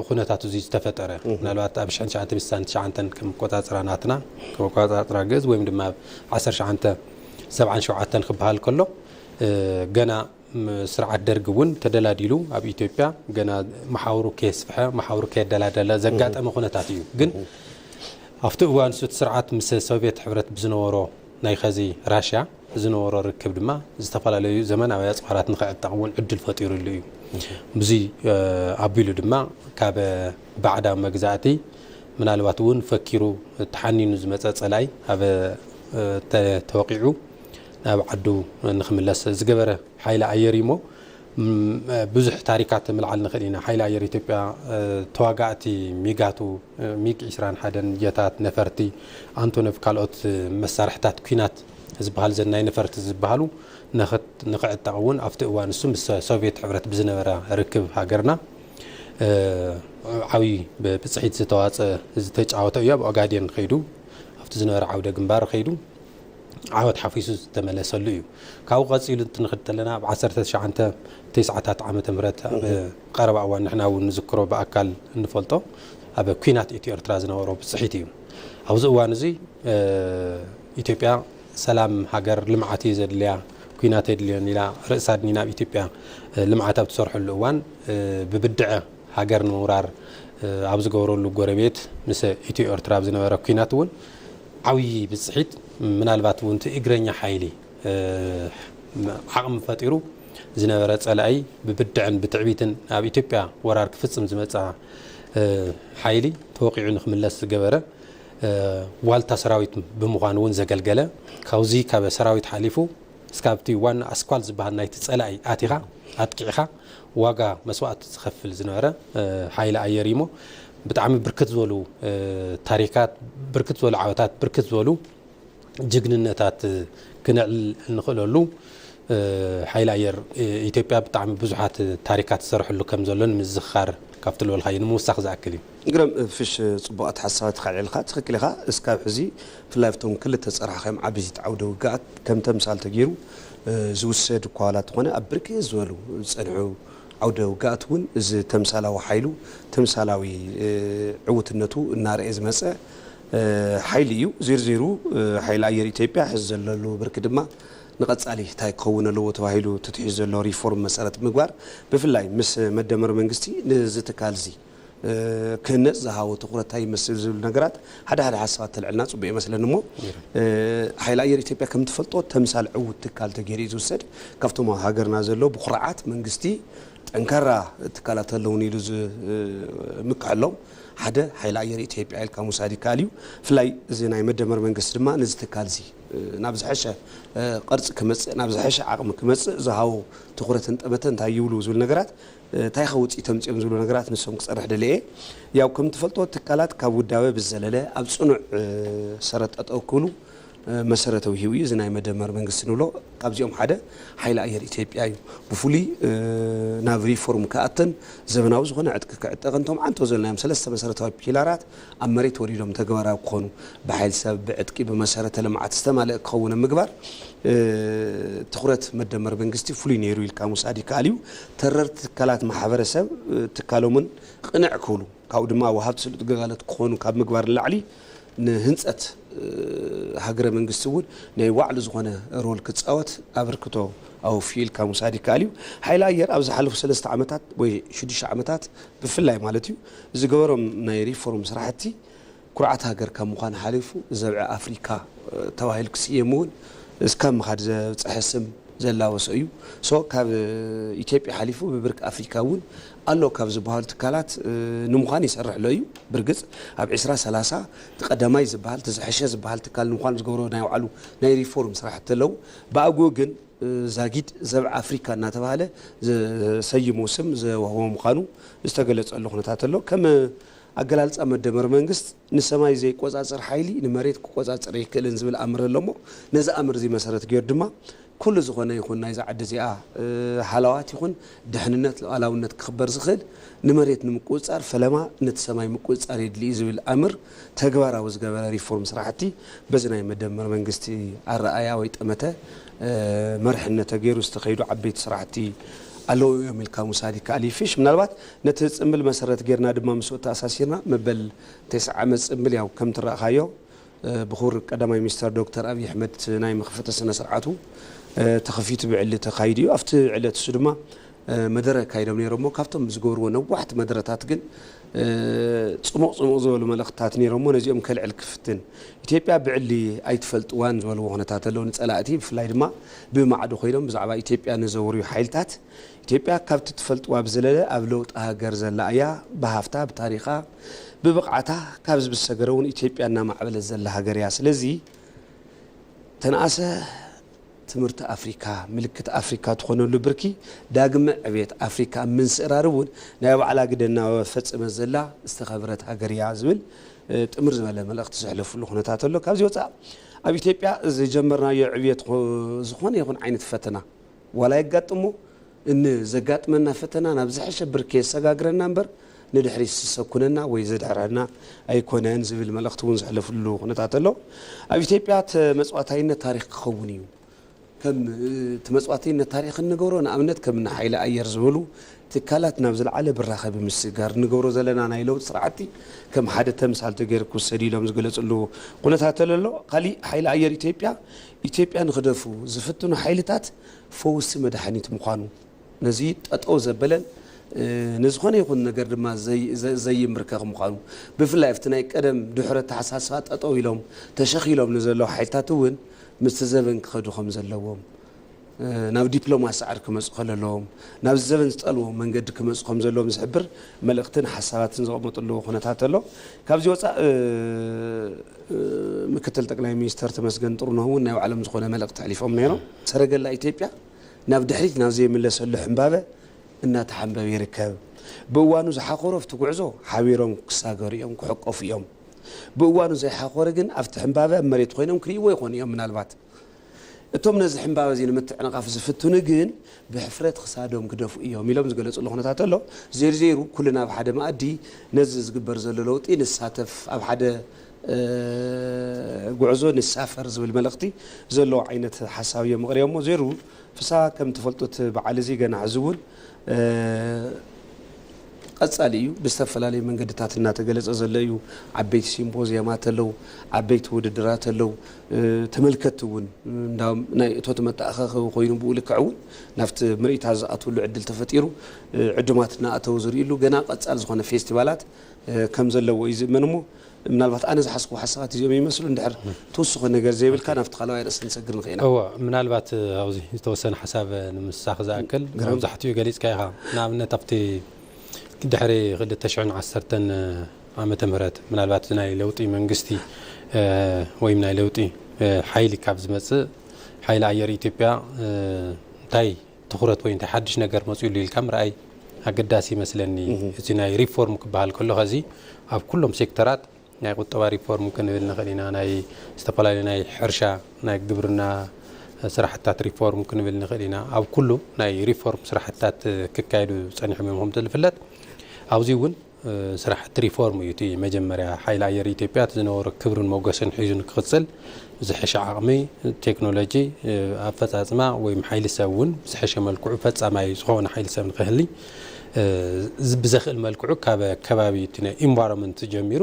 ኩነታት እዙይ ዝተፈጠረ። ምናልባት ኣብ ሽሕን ትሽዓንተ ሚእቲ ስሳን ትሽዓንተን ከም ኣቆፃፅራ ናትና፣ ከም ኣቆፃፅራ ግእዝ ወይም ድማ ኣብ ዓሰርተ ትሽዓንተ ሰብዓን ሸውዓተን ክበሃል ከሎ ገና ስርዓት ደርጊ እውን ተደላዲሉ ኣብ ኢትዮጵያ ገና መሓውሩ ከየስፍሐ መሓውሩ ከየደላደለ ዘጋጠመ ኩነታት እዩ። ግን ኣብቲ እዋን ንሱ እቲ ስርዓት ምስ ሶቬት ሕብረት ብዝነበሮ ናይ ኸዚ ራሽያ ዝነበሮ ርክብ ድማ ዝተፈላለዩ ዘመናዊ ኣጽዋራት ንክዕጠቕ እውን ዕድል ፈጢሩሉ እዩ። ብዙይ ኣቢሉ ድማ ካብ ባዕዳዊ መግዛእቲ ምናልባት እውን ፈኪሩ ተሓኒኑ ዝመጸ ጸላኢ ኣብ ተወቒዑ ናብ ዓዱ ንክምለስ ዝገበረ ሓይሊ ኣየር እዩ እሞ ብዙሕ ታሪካት ምልዓል ንኽእል ኢና። ሓይሊ ኣየር ኢትዮጵያ ተዋጋእቲ ሚጋቱ፣ ሚግ ዕስራን ሓደን፣ ጀታት፣ ነፈርቲ፣ ኣንቶኖቭ ካልኦት መሳርሕታት ኲናት ዝበሃሉ ዘን ናይ ነፈርቲ ዝበሃሉ ንኽዕጠቕ እውን ኣብቲ እዋን ንሱ ምስ ሶቭየት ሕብረት ብዝነበራ ርክብ ሃገርና ዓብዪ ብፅሒት ዝተዋፀ ዝተጫወተ እዩ። ኣብ ኦጋዴን ከይዱ ኣብቲ ዝነበረ ዓውደ ግንባር ከይዱ። ዓወት ሓፊሱ ዝተመለሰሉ እዩ። ካብኡ ቀጺሉ እንትንክድ ተለና ኣብ ዓሰርተ ትሽዓንተ ቴስዓታት ዓመተ ምህረት ኣብ ቀረባ እዋን ንሕና እውን ንዝክሮ ብኣካል እንፈልጦ ኣብ ኩናት ኢትዮ ኤርትራ ዝነበሮ ብጽሒት እዩ። ኣብዚ እዋን እዙይ ኢትዮጵያ ሰላም ሃገር ልምዓት እዩ ዘድልያ ኩናት ኣየድልዮን ኢላ ርእሳ ኣድኒና ኣብ ኢትዮጵያ ልምዓት ኣብ ትሰርሐሉ እዋን ብብድዐ ሃገር ንምውራር ኣብ ዝገብረሉ ጎረቤት ምስ ኢትዮ ኤርትራ ኣብ ዝነበረ ኩናት እውን ዓብዪ ብፅሒት ምናልባት እውን እቲ እግረኛ ሓይሊ ዓቕሚ ፈጢሩ ዝነበረ ፀላኢ ብብድዐን ብትዕቢትን ኣብ ኢትዮጵያ ወራር ክፍፅም ዝመፅኣ ሓይሊ ተወቒዑ ንክምለስ ዝገበረ ዋልታ ሰራዊት ብምዃን እውን ዘገልገለ ካብዚ ካብ ሰራዊት ሓሊፉ እስካብቲ ዋና ኣስኳል ዝበሃል ናይቲ ፀላኢ ኣቲኻ ኣጥቂዕኻ ዋጋ መስዋእቲ ዝኸፍል ዝነበረ ሓይሊ ኣየር እዩሞ ብጣዕሚ ብርክት ዝበሉ ታሪካት ብርክት ዝበሉ ዓወታት ብርክት ዝበሉ ጅግንነታት ክነዕል እንኽእለሉ ሓይሊ ኣየር ኢትዮጵያ ብጣዕሚ ብዙሓት ታሪካት ዝሰርሐሉ ከም ዘሎ ንምዝኽኻር ካብቲ ዝበልካዮ ንምውሳኽ ዝኣክል እዩ። ይግረም ፍሽ ጽቡቅ ኣተሓሳስባ ተካዒልካ ትክክል ኢካ እስካብ ሕዚ ብፍላይ ኣብቶም ክልተ ዝጸርሓካዮም ዓበይቲ ዓውደ ውግኣት ከም ተምሳል ተጌሩ ዝውሰድ እኳ ዋላ ተኮነ ኣብ ብርክት ዝበሉ ዝጸንሑ ዓውደ ውግኣት ውን እዚ ተምሳላዊ ሓይሉ ተምሳላዊ ዕውትነቱ እናረኤ ዝመጸ ሓይሊ እዩ ዚርዚሩ ሓይሊ ኣየር ኢትዮጵያ ሕዚ ዘለሉ ብርኪ ድማ ንቀጻሊ ታይ ክከውን ኣለዎ ተባሂሉ ተትሒዙ ዘሎ ሪፎርም መሰረት ብምግባር ብፍላይ ምስ መደመር መንግስቲ ንዚ ትካል እዚ ክህነፅ ዝሃቦ ትኹረት ታይ ይመስል ዝብሉ ነገራት ሓደ ሓደ ሓሳባት ተልዕልና ፅቡቅ ይመስለኒ እሞ ሓይሊ ኣየር ኢትዮጵያ ከምትፈልጦ ተምሳል ዕውት ትካል ተገይሩ እዩ ዝውሰድ ካብቶም ኣብ ሃገርና ዘለው ብኩርዓት መንግስቲ ጠንካራ ትካላት ኣለውኒ ኢሉ ዝምክሐሎም ሓደ ሓይሊ ኣየር ኢትዮጵያ ኢልካ ምውሳድ ይከኣል እዩ ብፍላይ እዚ ናይ መደመር መንግስቲ ድማ ነዚ ትካል እዚ ናብ ዝሐሸ ቅርፂ ክመፅእ ናብ ዝሐሸ ዓቅሚ ክመፅእ ዝሃቦ ትኹረትን ጠመተን እንታይ ይብሉ ዝብል ነገራት ታይ ኢኻ ውፅኢት ኣምፂኦም ዝብሉ ነገራት ንሶም ክፀርሕ ደልየ እየ። ያው ከምትፈልጥዎ ትካላት ካብ ውዳበ ብዝዘለለ ኣብ ፅኑዕ ሰረት ጠጠው ክብሉ መሰረተ ውሂቡ እዩ። እዚ ናይ መደመር መንግስቲ ንብሎ ካብዚኦም ሓደ ሓይሊ ኣየር ኢትዮጵያ እዩ። ብፍሉይ ናብ ሪፎርም ክኣትን ዘበናዊ ዝኾነ ዕጥቂ ክዕጠቅን እቶም ዓንቶ ዘልናዮም ሰለስተ መሰረታዊ ፒላራት ኣብ መሬት ወሪዶም ተግባራዊ ክኾኑ፣ ብሓይሊ ሰብ፣ ብዕጥቂ፣ ብመሰረተ ልምዓት ዝተማልአ ክኸውን ኣብ ምግባር ትኹረት መደመር መንግስቲ ፍሉይ ነይሩ ኢልካ ምውሳድ ይከኣል እዩ። ተረርቲ ትካላት ማሕበረሰብ ትካሎምን ቕንዕ ክብሉ ካብኡ ድማ ወሃብቲ ስሉጥ ግልጋሎት ክኾኑ ካብ ምግባር ንላዕሊ ንህንፀት ሃገረ መንግስቲ እውን ናይ ባዕሉ ዝኾነ ሮል ክፃወት ኣበርክቶ ኣወፊዩ ኢልካ ምውሳድ ይከኣል እዩ። ሓይሊ ኣየር ኣብ ዝሓለፉ ሰለስተ ዓመታት ወይ ሽዱሽተ ዓመታት ብፍላይ ማለት እዩ ዝገበሮም ናይ ሪፎርም ስራሕቲ ኩርዓት ሃገር ካብ ምዃን ሓሊፉ ዘብዒ ኣፍሪካ ተባሂሉ ክስየም እውን እስካብ ምኻድ ዘብፀሐ ስም ዘላበሶ እዩ። so ካብ ኢትዮጵያ ሓሊፉ ብብርኪ ኣፍሪካ እውን ኣሎ ካብ ዝብሃሉ ትካላት ንምዃን ይሰርሕሎ እዩ። ብርግፅ ኣብ ዕስራ ሰላሳ እቲ ቀዳማይ ዝብሃል እቲ ዝሐሸ ዝብሃል ትካል ንምዃን ዝገብሮ ናይ ባዕሉ ናይ ሪፎርም ስራሕቲ ኣለው ብኣግኡ ግን ዛጊድ ዘብዐ ኣፍሪካ እናተብሃለ ዘሰይሞ ስም ዘወሃቦ ምዃኑ ዝተገለፀሉ ኩነታት ኣሎ። ከም ኣገላልፃ መደመር መንግስት ንሰማይ ዘይቆፃፀር ሓይሊ ንመሬት ክቆፃፀር ኣይክእልን ዝብል ኣምር ኣሎ እሞ ነዚ ኣምር እዙይ መሰረት ገይሩ ድማ ኩሉ ዝኾነ ይኹን ናይዛ ዓዲ እዚኣ ሃላዋት ይኹን ድሕንነት ሉኣላውነት ክኽበር ዝኽእል ንመሬት ንምቁፅፃር ፈለማ ነቲ ሰማይ ምቁፅፃር የድሊ እዩ ዝብል ኣምር ተግባራዊ ዝገበረ ሪፎርም ስራሕቲ በዚ ናይ መደመር መንግስቲ ኣረኣእያ ወይ ጠመተ መርሕነት ተገይሩ ዝተኸይዱ ዓበይቲ ስራሕቲ ኣለዉ እዮም ኢልካ ምውሳድ ይከኣል እዩ። ፊሽ ምናልባት ነቲ ፅምብል መሰረት ገይርና ድማ ምስኡ ተኣሳሲርና መበል ቴስዓ ዓመት ፅምብል ያው ከምቲ ረኣኻዮ ብኹብር ቀዳማይ ሚኒስተር ዶክተር ኣብይ ኣሕመድ ናይ መኽፈቲ ስነ ስርዓቱ ተኸፊቱ ብዕሊ ተኻይዱ እዩ። ኣብቲ ዕለት እሱ ድማ መደረ ኣካይዶም ነይሮሞ ካብቶም ብዝገብርዎ ነዋሕቲ መደረታት ግን ጽሙቕ ጽሙቕ ዝበሉ መልእኽትታት ነይሮሞ ነዚኦም ከልዕል ክፍትን። ኢትዮጵያ ብዕሊ ኣይትፈልጥዋን ዝበልዎ ኩነታት ኣሎ ንጸላእቲ ብፍላይ ድማ ብማዕዶ ኮይኖም ብዛዕባ ኢትዮጵያ ንዘውርዩ ሓይልታት ኢትዮጵያ ካብቲ ትፈልጥዋ ብዝለለ ኣብ ለውጢ ሃገር ዘላ እያ ብሃፍታ ብታሪኻ ብብቕዓታ ካብዚ ብዝሰገረውን ኢትዮጵያ እናማዕበለት ዘላ ሃገር እያ ስለዚ ተንኣሰ ትምህርቲ ኣፍሪካ ምልክት ኣፍሪካ ትኾነሉ ብርኪ ዳግመ ዕብየት ኣፍሪካ ኣብ ምንስእራር እውን ናይ ባዕላ ግደ እናፈፀመት ዘላ ዝተኸብረት ሃገር እያ ዝብል ጥምር ዝበለ መልእኽቲ ዘሕለፍሉ ኩነታት ኣሎ። ካብዚ ወፃእ ኣብ ኢትዮጵያ ዝጀመርናዮ ዕብየት ዝኾነ ይኹን ዓይነት ፈተና ዋላ የጋጥሞ ን ዘጋጥመና ፈተና ናብ ዝሐሸ ብርኪ የሰጋግረና እምበር ንድሕሪት ዝሰኩነና ወይ ዘድሕረና ኣይኮነን ዝብል መልእኽቲ እውን ዘሕለፍሉ ኩነታት ኣሎ። ኣብ ኢትዮጵያ ተመፅዋታይነት ታሪኽ ክኸውን እዩ። ከም ተመፅዋትይነት ታሪኽ እንገብሮ ንኣብነት ከም እኒ ሓይሊ ኣየር ዝበሉ ትካላት ናብ ዝለዓለ ብራኸ ብምስግጋር እንገብሮ ዘለና ናይ ለውጢ ስራሕቲ ከም ሓደ ተምሳል ተገይሩ ክውሰድ እዩ ኢሎም ዝገለፅሉ ኩነታት ኣሎ። ካሊእ ሓይሊ ኣየር ኢትዮጵያ ኢትዮጵያ ንክደፍኡ ዝፍትኑ ሓይልታት ፈውሲ መድሓኒት ምዃኑ፣ ነዚ ጠጠው ዘበለን ንዝኾነ ይኹን ነገር ድማ ዘይምብርከኽ ምዃኑ፣ ብፍላይ ኣብቲ ናይ ቀደም ድሑር ኣተሓሳስባ ጠጠው ኢሎም ተሸኺሎም ንዘለዉ ሓይልታት እውን ምስቲ ዘበን ክኸዱ ከምዘለዎም፣ ናብ ዲፕሎማሲ ጸዕሪ ክመጹ ከለለዎም፣ ናብዚ ዘበን ዝጠልቦ መንገዲ ክመጹ ከምዘለዎም ዝሕብር መልእኽትን ሓሳባትን ዘቐመጥሉ ኩነታት ኣሎ። ካብዚ ወጻእ ምክትል ጠቅላይ ሚኒስተር ተመስገን ጥሩነህ እውን ናይ ባዕሎም ዝኾነ መልእኽቲ ኣሕሊፎም ነይሮም። ሰረገላ ኢትዮጵያ ናብ ድሕሪት ናብ ዘይምለሰሉ ሕምባበ እናተሓምበበ ይርከብ። ብእዋኑ ዝሓኾሩ ኣብቲ ጉዕዞ ሓቢሮም ክሳገሩ እዮም፣ ክሕቆፉ እዮም። ብእዋኑ ዘይሓኾረ ግን ኣብቲ ሕምባበ ኣብ መሬት ኮይኖም ክርእይዎ ይኾኑ እዮም ምናልባት። እቶም ነዚ ሕምባበ እዚ ንምትዕንቓፍ ዝፍትኑ ግን ብሕፍረት ኽሳዶም ግደፉ እዮም ኢሎም ዝገለፅሉ ኹነታት ኣሎ። ዜርዜሩ ኩልና ኣብ ሓደ መኣዲ ነዚ ዝግበር ዘሎ ለውጢ ንሳተፍ፣ ኣብ ሓደ ጉዕዞ ንሳፈር ዝብል መልእኽቲ ዘለዎ ዓይነት ሓሳብ እዮም ኣቕሪቦሞ ዜሩ ፍስሃ ከም ትፈልጡ እቲ በዓል እዚ ገና ሕዚ እውን ቀጻሊ እዩ ብዝተፈላለዩ መንገድታት እናተገለጸ ዘሎ እዩ ዓበይቲ ሲምፖዝየማት ኣለው ዓበይቲ ውድድራት ኣለው ተመልከትቲ እውን እንዳም ናይ እቶት መተኣኻኸቢ ኮይኑ ብኡ ልክዕ እውን ናብቲ ምርኢታት ዝኣትውሉ ዕድል ተፈጢሩ ዕዱማት እናኣተው ዝርእሉ ገና ቀጻሊ ዝኾነ ፌስቲቫላት ከም ዘለዎ እዩ ዝእመን እሞ ምናልባት ኣነ ዝሓዝክዎ ሓሳባት እዚኦም ይመስሉ እንድሕር ትውስኾ ነገር ዘይብልካ ናብቲ ካልዋይ ኣርእስቲ ክንሰግር ንኽእል ኢና። እወ ምናልባት ኣብዚ ዝተወሰነ ሓሳብ ንምስሳኽ ዝኣክል ግርም። መብዛሕትኡ ገሊጽካ ኢኻ ንኣብነት ኣብቲ ድሕሪ ክልተ ሽሕን ዓሰርተን ዓመተ ምህረት ምናልባት እዚ ናይ ለውጢ መንግስቲ ወይም ናይ ለውጢ ሓይሊ ካብ ዝመጽእ ሓይሊ ኣየር ኢትዮጵያ እንታይ ትኹረት ወይ እንታይ ሓድሽ ነገር መፂኡ ኣሎ ኢልካ ምርኣይ ኣገዳሲ ይመስለኒ። እዚ ናይ ሪፎርም ክበሃል ከሎ ኸዚ ኣብ ኩሎም ሴክተራት ናይ ቁጠባ ሪፎርም ክንብል ንኽእል ኢና፣ ናይ ዝተፈላለዩ ናይ ሕርሻ ናይ ግብርና ስራሕትታት ሪፎርም ክንብል ንኽእል ኢና። ኣብ ኩሉ ናይ ሪፎርም ስራሕትታት ክካየዱ ፀኒሖም እዮም ከምቲ ዝፍለጥ ኣብዚ እውን ስራሕቲ ሪፎርም እዩ እቲ መጀመርያ። ሓይሊ ኣየር ኢትዮጵያ እቲ ዝነበሮ ክብርን ሞገስን ሒዙ ንክቕፅል ብዝሐሸ ዓቕሚ፣ ቴክኖሎጂ፣ ኣፈፃፅማ ወይም ሓይሊ ሰብ እውን ብዝሐሸ መልክዑ ፈፃማይ ዝኾነ ሓይሊ ሰብ ንክህሊ ብዘኽእል መልክዑ ካብ ከባቢ እቲ ናይ ኢንቫሮመንት ጀሚሩ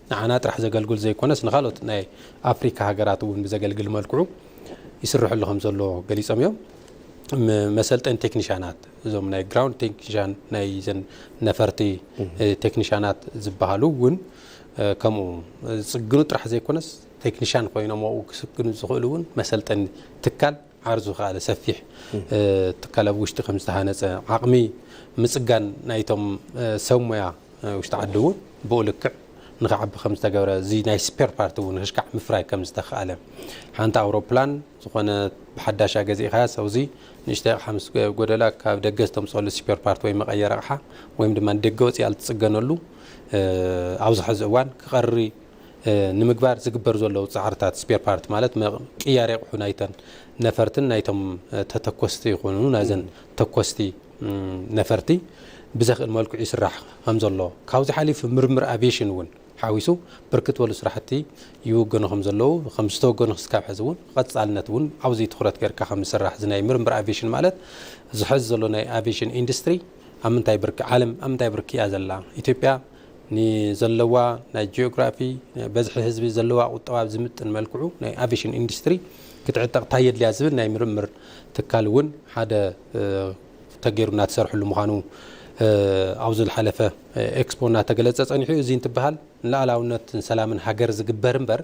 ንዓና ጥራሕ ዘገልግል ዘይኮነስ ንካልኦት ናይ ኣፍሪካ ሃገራት እውን ብዘገልግል መልክዑ ይስረሐሉ ከምዘሎ ገሊፆም እዮም። መሰልጠኒ ቴክኒሻናት እዞም ናይ ግራውንድ ቴክኒሻን ናይ ዘን ነፈርቲ ቴክኒሻናት ዝበሃሉ እውን ከምኡ ዝፅግኑ ጥራሕ ዘይኮነስ ቴክኒሻን ኮይኖም ኣብኡ ክስግኑ ዝኽእሉ እውን መሰልጠኒ ትካል ዓር ዝኸኣለ ሰፊሕ ትካል ኣብ ውሽጢ ከም ዝተሃነፀ፣ ዓቕሚ ምፅጋን ናይቶም ሰብ ሞያ ውሽጢ ዓዲ እውን ብኡ ልክዕ ንኽዓቢ ከም ዝተገብረ፣ እዚ ናይ ስፔር ፓርት እውን ክሽካዕ ምፍራይ ከም ዝተኽኣለ፣ ሓንቲ ኣውሮፕላን ዝኾነ ብሓዳሻ ገዚእኻያስ ኣብዙ ንእሽተይ ኣቕሓ ምስ ጎደላ ካብ ደገ ዝተምፀሉ ስፔር ፓርት ወይ መቐየሪ ኣቕሓ ወይም ድማ ንደገ ወፂኣ ልትፅገነሉ ኣብዚ ሐዚ እዋን ክቐሪ ንምግባር ዝግበር ዘሎ ፃዕርታት ስፔር ፓርት ማለት ቅያሬ ኣቑሑ ናይተን ነፈርትን ናይቶም ተተኮስቲ ይኹኑ ናይዘን ተኮስቲ ነፈርቲ ብዘኽእል መልክዑ ይስራሕ ከምዘሎ ካብዚ ሓሊፍ ምርምር ኣቪዬሽን እውን ሓዊሱ ብርክት ዝበሉ ስራሕቲ ይውገኑ ከምዘለዉ ከም ዝተወገኑ ክስካብ ሕዚ እውን ቐፃልነት እውን ኣብዚ ትኹረት ገይርካ ከም ዝስራሕ እዚ ናይ ምርምር ኣቪዬሽን ማለት ዝሐዚ ዘሎ ናይ ኣቪዬሽን ኢንዱስትሪ ኣብ ምንታይ ብርኪ ዓለም ኣብ ምንታይ ብርኪ እያ ዘላ ኢትዮጵያ ንዘለዋ ናይ ጂኦግራፊ፣ በዝሒ ህዝቢ፣ ዘለዋ ቁጠባ ብዝምጥን መልክዑ ናይ ኣቬሽን ኢንዱስትሪ ክትዕጠቕ ታይ የድልያ ዝብል ናይ ምርምር ትካል እውን ሓደ ተገይሩ እናተሰርሐሉ ምዃኑ ኣብዚ ዝሓለፈ ኤክስፖ እናተገለፀ ፀኒሑ እዩ። እዙይ እንትበሃል ንላኣላውነትን ሰላምን ሃገር ዝግበር እምበር፣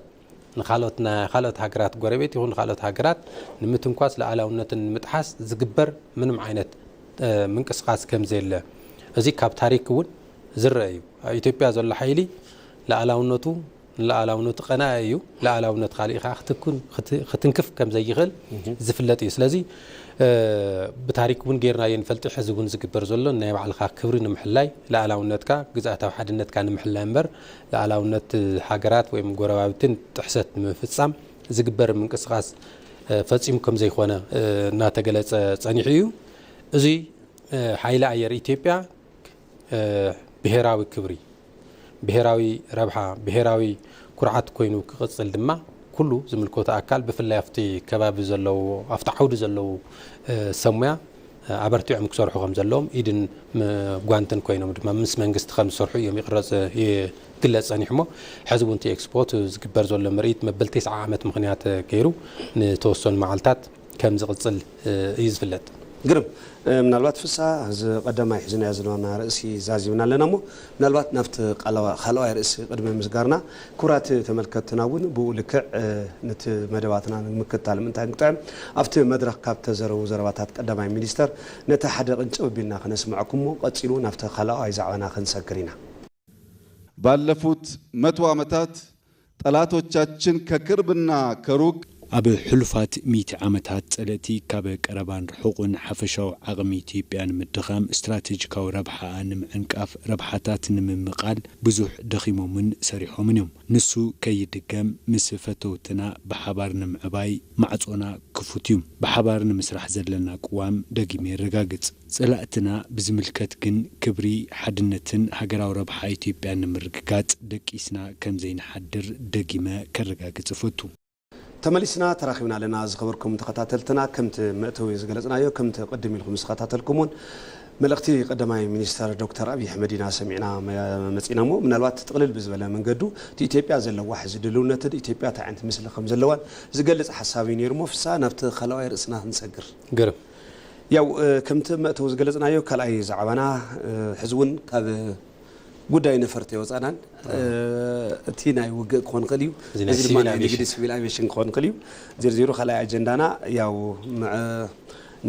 ንካልኦት ናይ ካልኦት ሃገራት ጎረቤት ይኹን ንካልኦት ሃገራት ንምትንኳስ ሉኣላውነትን ንምጥሓስ ዝግበር ምንም ዓይነት ምንቅስቃስ ከምዘየለ እዚ ካብ ታሪክ እውን ዝረእ እዩ። ኣብ ኢትዮጵያ ዘሎ ሓይሊ ሉኣላውነቱ ንሉኣላውነቱ ቀናኢ እዩ። ሉኣላውነት ካሊእ ከዓ ክትንክፍ ከምዘይኽእል ዝፍለጥ እዩ። ስለዚ ብታሪክ እውን ገይርናዮ ንፈልጥ ሕዚ እውን ዝግበር ዘሎ ናይ ባዕልኻ ክብሪ ንምሕላይ ሉኣላውነትካ ግዝኣታዊ ሓድነትካ ንምሕላይ እምበር ልኣላውነት ሃገራት ወይም ጎረባብቲ ጥሕሰት ንምፍፃም ዝግበር ምንቅስቓስ ፈፂሙ ከምዘይኮነ እናተገለፀ ፀኒሑ እዩ። እዙይ ሓይሊ ኣየር ኢትዮጵያ ብሄራዊ ክብሪ፣ ብሄራዊ ረብሓ፣ ብሄራዊ ኩርዓት ኮይኑ ክቕፅል ድማ ኩሉ ዝምልከቶ ኣካል ብፍላይ ኣብቲ ከባቢ ዘለዉ ኣብቲ ዓውዲ ዘለዉ ሰብ ሙያ ኣበርቲዖም ክሰርሑ ከምዘለዎም ኢድን ጓንትን ኮይኖም ድማ ምስ መንግስቲ ከምዝሰርሑ እዮም ይቕረፅ ይግለፅ ፀኒሑሞ ሐዚ እውን እቲ ኤክስፖ እቲ ዝግበር ዘሎ ምርኢት መበል ቴስዓ ዓመት ምኽንያት ገይሩ ንተወሰኑ መዓልታት ከምዝቕፅል እዩ ዝፍለጥ። ግርም ምናልባት ፍስሃ እዚ ቀዳማይ ሒዝናዮ ዝነበርና ርእሲ ዛዚምና ኣለና እሞ ምናልባት ናብቲ ካልኣዋይ ርእሲ ቅድሚ ምስጋርና ክብራት ተመልከትትና እውን ብኡ ልክዕ ንቲ መደባትና ንምክትታል ምእንታይ እንጥዕም ኣብቲ መድረኽ ካብ ተዘረቡ ዘረባታት ቀዳማይ ሚኒስተር ነቲ ሓደ ቅንጭብ ኣቢልና ከነስምዐኩም እሞ ቀጺሉ ናብቲ ካልኣዋይ ዛዕባና ክንሰግር ኢና። ባለፉት መቶ ዓመታት ጠላቶቻችን ከቅርብና ከሩቅ። ኣብ ሕሉፋት ሚእቲ ዓመታት ጸለእቲ ካብ ቀረባን ርሑቕን ሓፈሻዊ ዓቕሚ ኢትዮጵያ ንምድኻም፣ ስትራቴጂካዊ ረብሓኣ ንምዕንቃፍ፣ ረብሓታት ንምምቓል ብዙሕ ደኺሞምን ሰሪሖምን እዮም። ንሱ ከይድገም ምስ ፈተውትና ብሓባር ንምዕባይ ማዕጾና ክፉት እዩ። ብሓባር ንምስራሕ ዘለና ቅዋም ደጊመ የረጋግጽ። ፀላእትና ብዝምልከት ግን ክብሪ፣ ሓድነትን ሃገራዊ ረብሓ ኢትዮጵያን ንምርግጋፅ ደቂስና ከምዘይንሓድር ደጊመ ከረጋግፅ እፈቱ። ተመሊስና ተራኺብና ኣለና ዝኸበርኩም ተኸታተልትና ከምቲ መእተዊ ዝገለፅናዮ ከምቲ ቅድም ኢልኩም ዝተኸታተልኩምዎን መልእኽቲ ቀዳማይ ሚኒስተር ዶክተር ኣብይ ኣሕመድ ኢና ሰሚዕና መፂእና እሞ ምናልባት ጥቕልል ብዝበለ መንገዱ እቲ ኢትዮጵያ ዘለዋ ሕዚ ድልውነትን ኢትዮጵያ እንታይ ዓይነት ምስሊ ከምዘለዋን ዝገልፅ ሓሳብ እዩ ነይሩ እሞ ፍስሃ ናብቲ ካልኣዋይ ርእስና ክንሰግር። ግርም። ያው ከምቲ ኣብ መእተዊ ዝገለጽናዮ ካልኣይ ዛዕባና ሕዚ እውን ካብ ጉዳይ ነፈርቲ ኣይወጻእናን። እቲ ናይ ውግእ ክኾን ይኽእል እዩ፣ እዚ ናይ እዚ ድማ ሲቪል ናይ ንግዲ ኣቪዬሽን። ሲቪል ኣቪዬሽን ክኾን ይኽእል እዩ። ዜርዜሩ ካልኣይ ኣጀንዳና ያው ምዐ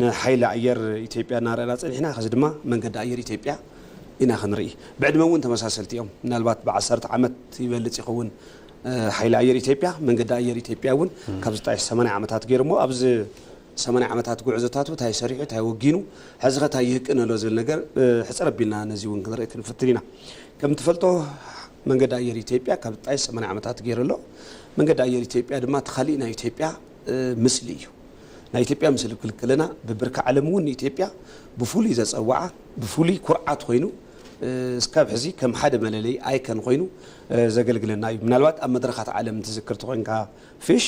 ንሓይሊ ኣየር ኢትዮጵያ እናረኣና ጸኒሕና ሕዚ ድማ መንገዲ ኣየር ኢትዮጵያ ኢና ክንርኢ። ብዕድመ እውን ተመሳሰልቲ እዮም። ምናልባት ብዓሰርተ ዓመት ይበልጽ ይኸውን ሓይሊ ኣየር ኢትዮጵያ። መንገዲ ኣየር ኢትዮጵያ እውን ካብ ዝጣየሽ ሰማንያ ዓመታት ገይሩ እሞ ኣብዚ ሰማንያ ዓመታት ጉዕዞታቱ ታይ ሰሪሑ ታይ ወጊኑ ሐዚኸ ታይ ይህቅን ኣሎ ዝብል ነገር ሕፅር ኣቢልና ነዚ እውን ክንርኢ ክንፍትን ኢና። ከምትፈልጦ መንገዲ ኣየር ኢትዮጵያ ካብ ዝጣየስ ሰማንያ ዓመታት ገይሩ ኣሎ። መንገዲ ኣየር ኢትዮጵያ ድማ እቲ ካሊእ ናይ ኢትዮጵያ ምስሊ እዩ። ናይ ኢትዮጵያ ምስሊ ክብል ከለና ብብርኪ ዓለም እውን ንኢትዮጵያ ብፍሉይ ዘፀወዓ ብፍሉይ ኩርዓት ኮይኑ እስካብ ሕዚ ከም ሓደ መለለይ ኣይከን ኮይኑ ዘገልግለና እዩ። ምናልባት ኣብ መድረኻት ዓለም ትዝክር ተኾይንካ ፊሽ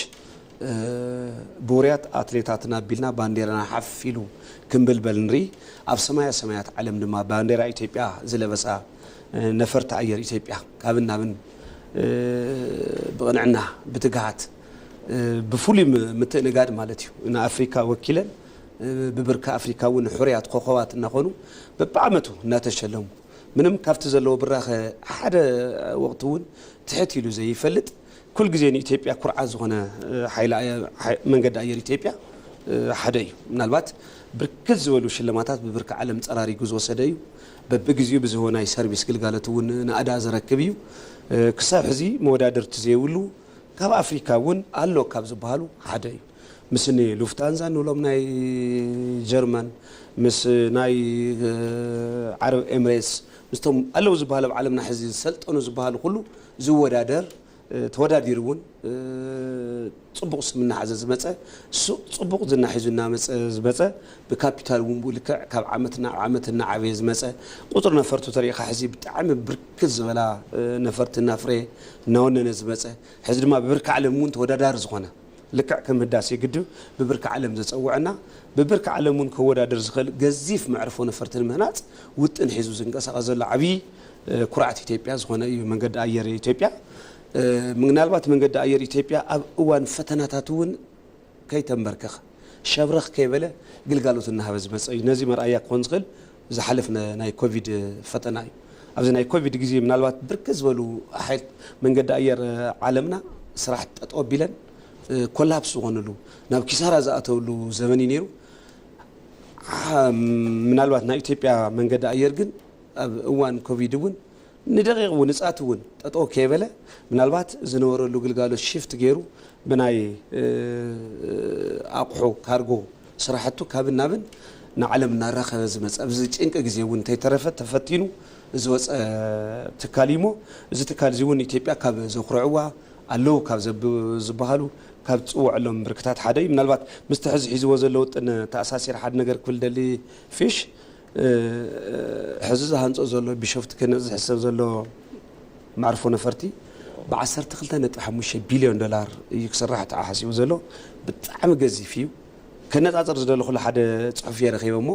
ብውርያት ኣትሌታትና ኣቢልና ባንዴራና ሓፍ ኢሉ ክንብልበል ንርኢ። ኣብ ሰማያ ሰማያት ዓለም ድማ ባንዴራ ኢትዮጵያ ዝለበሳ ነፈርቲ ኣየር ኢትዮጵያ ካብን ናብን ብቕንዕና፣ ብትግሃት፣ ብፍሉይ ምትእንጋድ ማለት እዩ ንኣፍሪካ ወኪለን ብብርኪ ኣፍሪካ እውን ሕሩያት ኮኾባት እናኾኑ በቢዓመቱ እናተሸለሙ ምንም ካብቲ ዘለዎ ብራኸ ሓደ ወቕቲ እውን ትሕት ኢሉ ዘይፈልጥ ኩል ግዜ ንኢትዮጵያ ኩርዓት ዝኾነ ሓይሊ መንገዲ ኣየር ኢትዮጵያ ሓደ እዩ። ምናልባት ብርክት ዝበሉ ሽልማታት ብብርኪ ዓለም ፀራሪጉ ዝወሰደ እዩ። በብግዚኡ ብዝህቦ ናይ ሰርቪስ ግልጋሎት እውን ናእዳ ዘረክብ እዩ። ክሳብ ሕዚ መወዳድርቲ ዘይብሉ ካብ ኣፍሪካ እውን ኣሎ ካብ ዝበሃሉ ሓደ እዩ። ምስ እኒ ሉፍታንዛ እንብሎም ናይ ጀርመን፣ ምስ ናይ ዓረብ ኤምሬትስ ምስቶም ኣለው ዝበሃሉ ኣብ ዓለምና ሕዚ ዝሰልጠኑ ዝበሃሉ ኩሉ ዝወዳደር ተወዳዲሩ እውን ፅቡቕ ስም እናሓዘ ዝመፀ ፅቡቕ ዝና ሒዙ እናመፀ ዝመፀ ብካፒታል እውን ብኡ ልክዕ ካብ ዓመት ናብ ዓመት እናዓበየ ዝመፀ ቁፅሪ ነፈርቱ ተሪእኻ ሕዚ ብጣዕሚ ብርክት ዝበላ ነፈርቲ እናፍረየ እናወነነ ዝመፀ ሕዚ ድማ ብብርኪ ዓለም እውን ተወዳዳሪ ዝኾነ ልክዕ ከም ህዳሴ ግድብ ብብርኪ ዓለም ዘፀወዐና ብብርኪ ዓለም እውን ከወዳድር ዝኽእል ገዚፍ መዕርፎ ነፈርቲ ንምህናፅ ውጥን ሒዙ ዝንቀሳቐስ ዘሎ ዓብዪ ኩርዓት ኢትዮጵያ ዝኾነ እዩ መንገዲ ኣየር ኢትዮጵያ። ምናልባት መንገዲ ኣየር ኢትዮጵያ ኣብ እዋን ፈተናታት እውን ከይተምበርከኸ፣ ሸብረኽ ከይበለ ግልጋሎት እናሃበ ዝመፀ እዩ። ነዚ መርኣያ ክኾን ዝኽእል ዝሓለፍነ ናይ ኮቪድ ፈተና እዩ። ኣብዚ ናይ ኮቪድ ግዜ ምናልባት ብርክት ዝበሉ ኣሓት መንገዲ ኣየር ዓለምና ስራሕ ጠጠው ኣቢለን ኮላፕስ ዝኾንሉ ናብ ኪሳራ ዝኣተውሉ ዘበን እዩ ነይሩ። ምናልባት ናይ ኢትዮጵያ መንገዲ ኣየር ግን ኣብ እዋን ኮቪድ እውን ንደቂቕ እውን ንጻት እውን ጠጠው ከይበለ ምናልባት ዝነበረሉ ግልጋሎት ሽፍት ገይሩ ብናይ ኣቑሑ ካርጎ ስራሕቱ ካብን ናብን ንዓለም እናራኸበ ዝመፀ ኣብ እዚ ጭንቂ ግዜ እውን እንተይተረፈ ተፈቲኑ ዝወፀ ትካል እዩ እሞ እዚ ትካል እዚ እውን ኢትዮጵያ ካብ ዘኹርዕዋ ኣለው ካብ ዝበሃሉ ካብ ትፅወዐሎም ብርክታት ሓደ እዩ ምናልባት ምስቲ ሕዚ ሒዝዎ ዘሎ ውጥን ተኣሳሲረ ሓደ ነገር ክብል ደሊ ፊሽ ሕዚ ዝሃንፆ ዘሎ ቢሾፍቱ ክህነፅ ዝሕሰብ ዘሎ መዕርፎ ነፈርቲ ብ ዓሰርተ ክልተ ነጥቢ ሓሙሽተ ቢልዮን ዶላር እዩ ክስራሕ ተሓሓሲቡ ዘሎ ብጣዕሚ ገዚፍ እዩ ከነፃፅር ዝደለኹሉ ሓደ ፅሑፍ እየ ረኺበ እሞ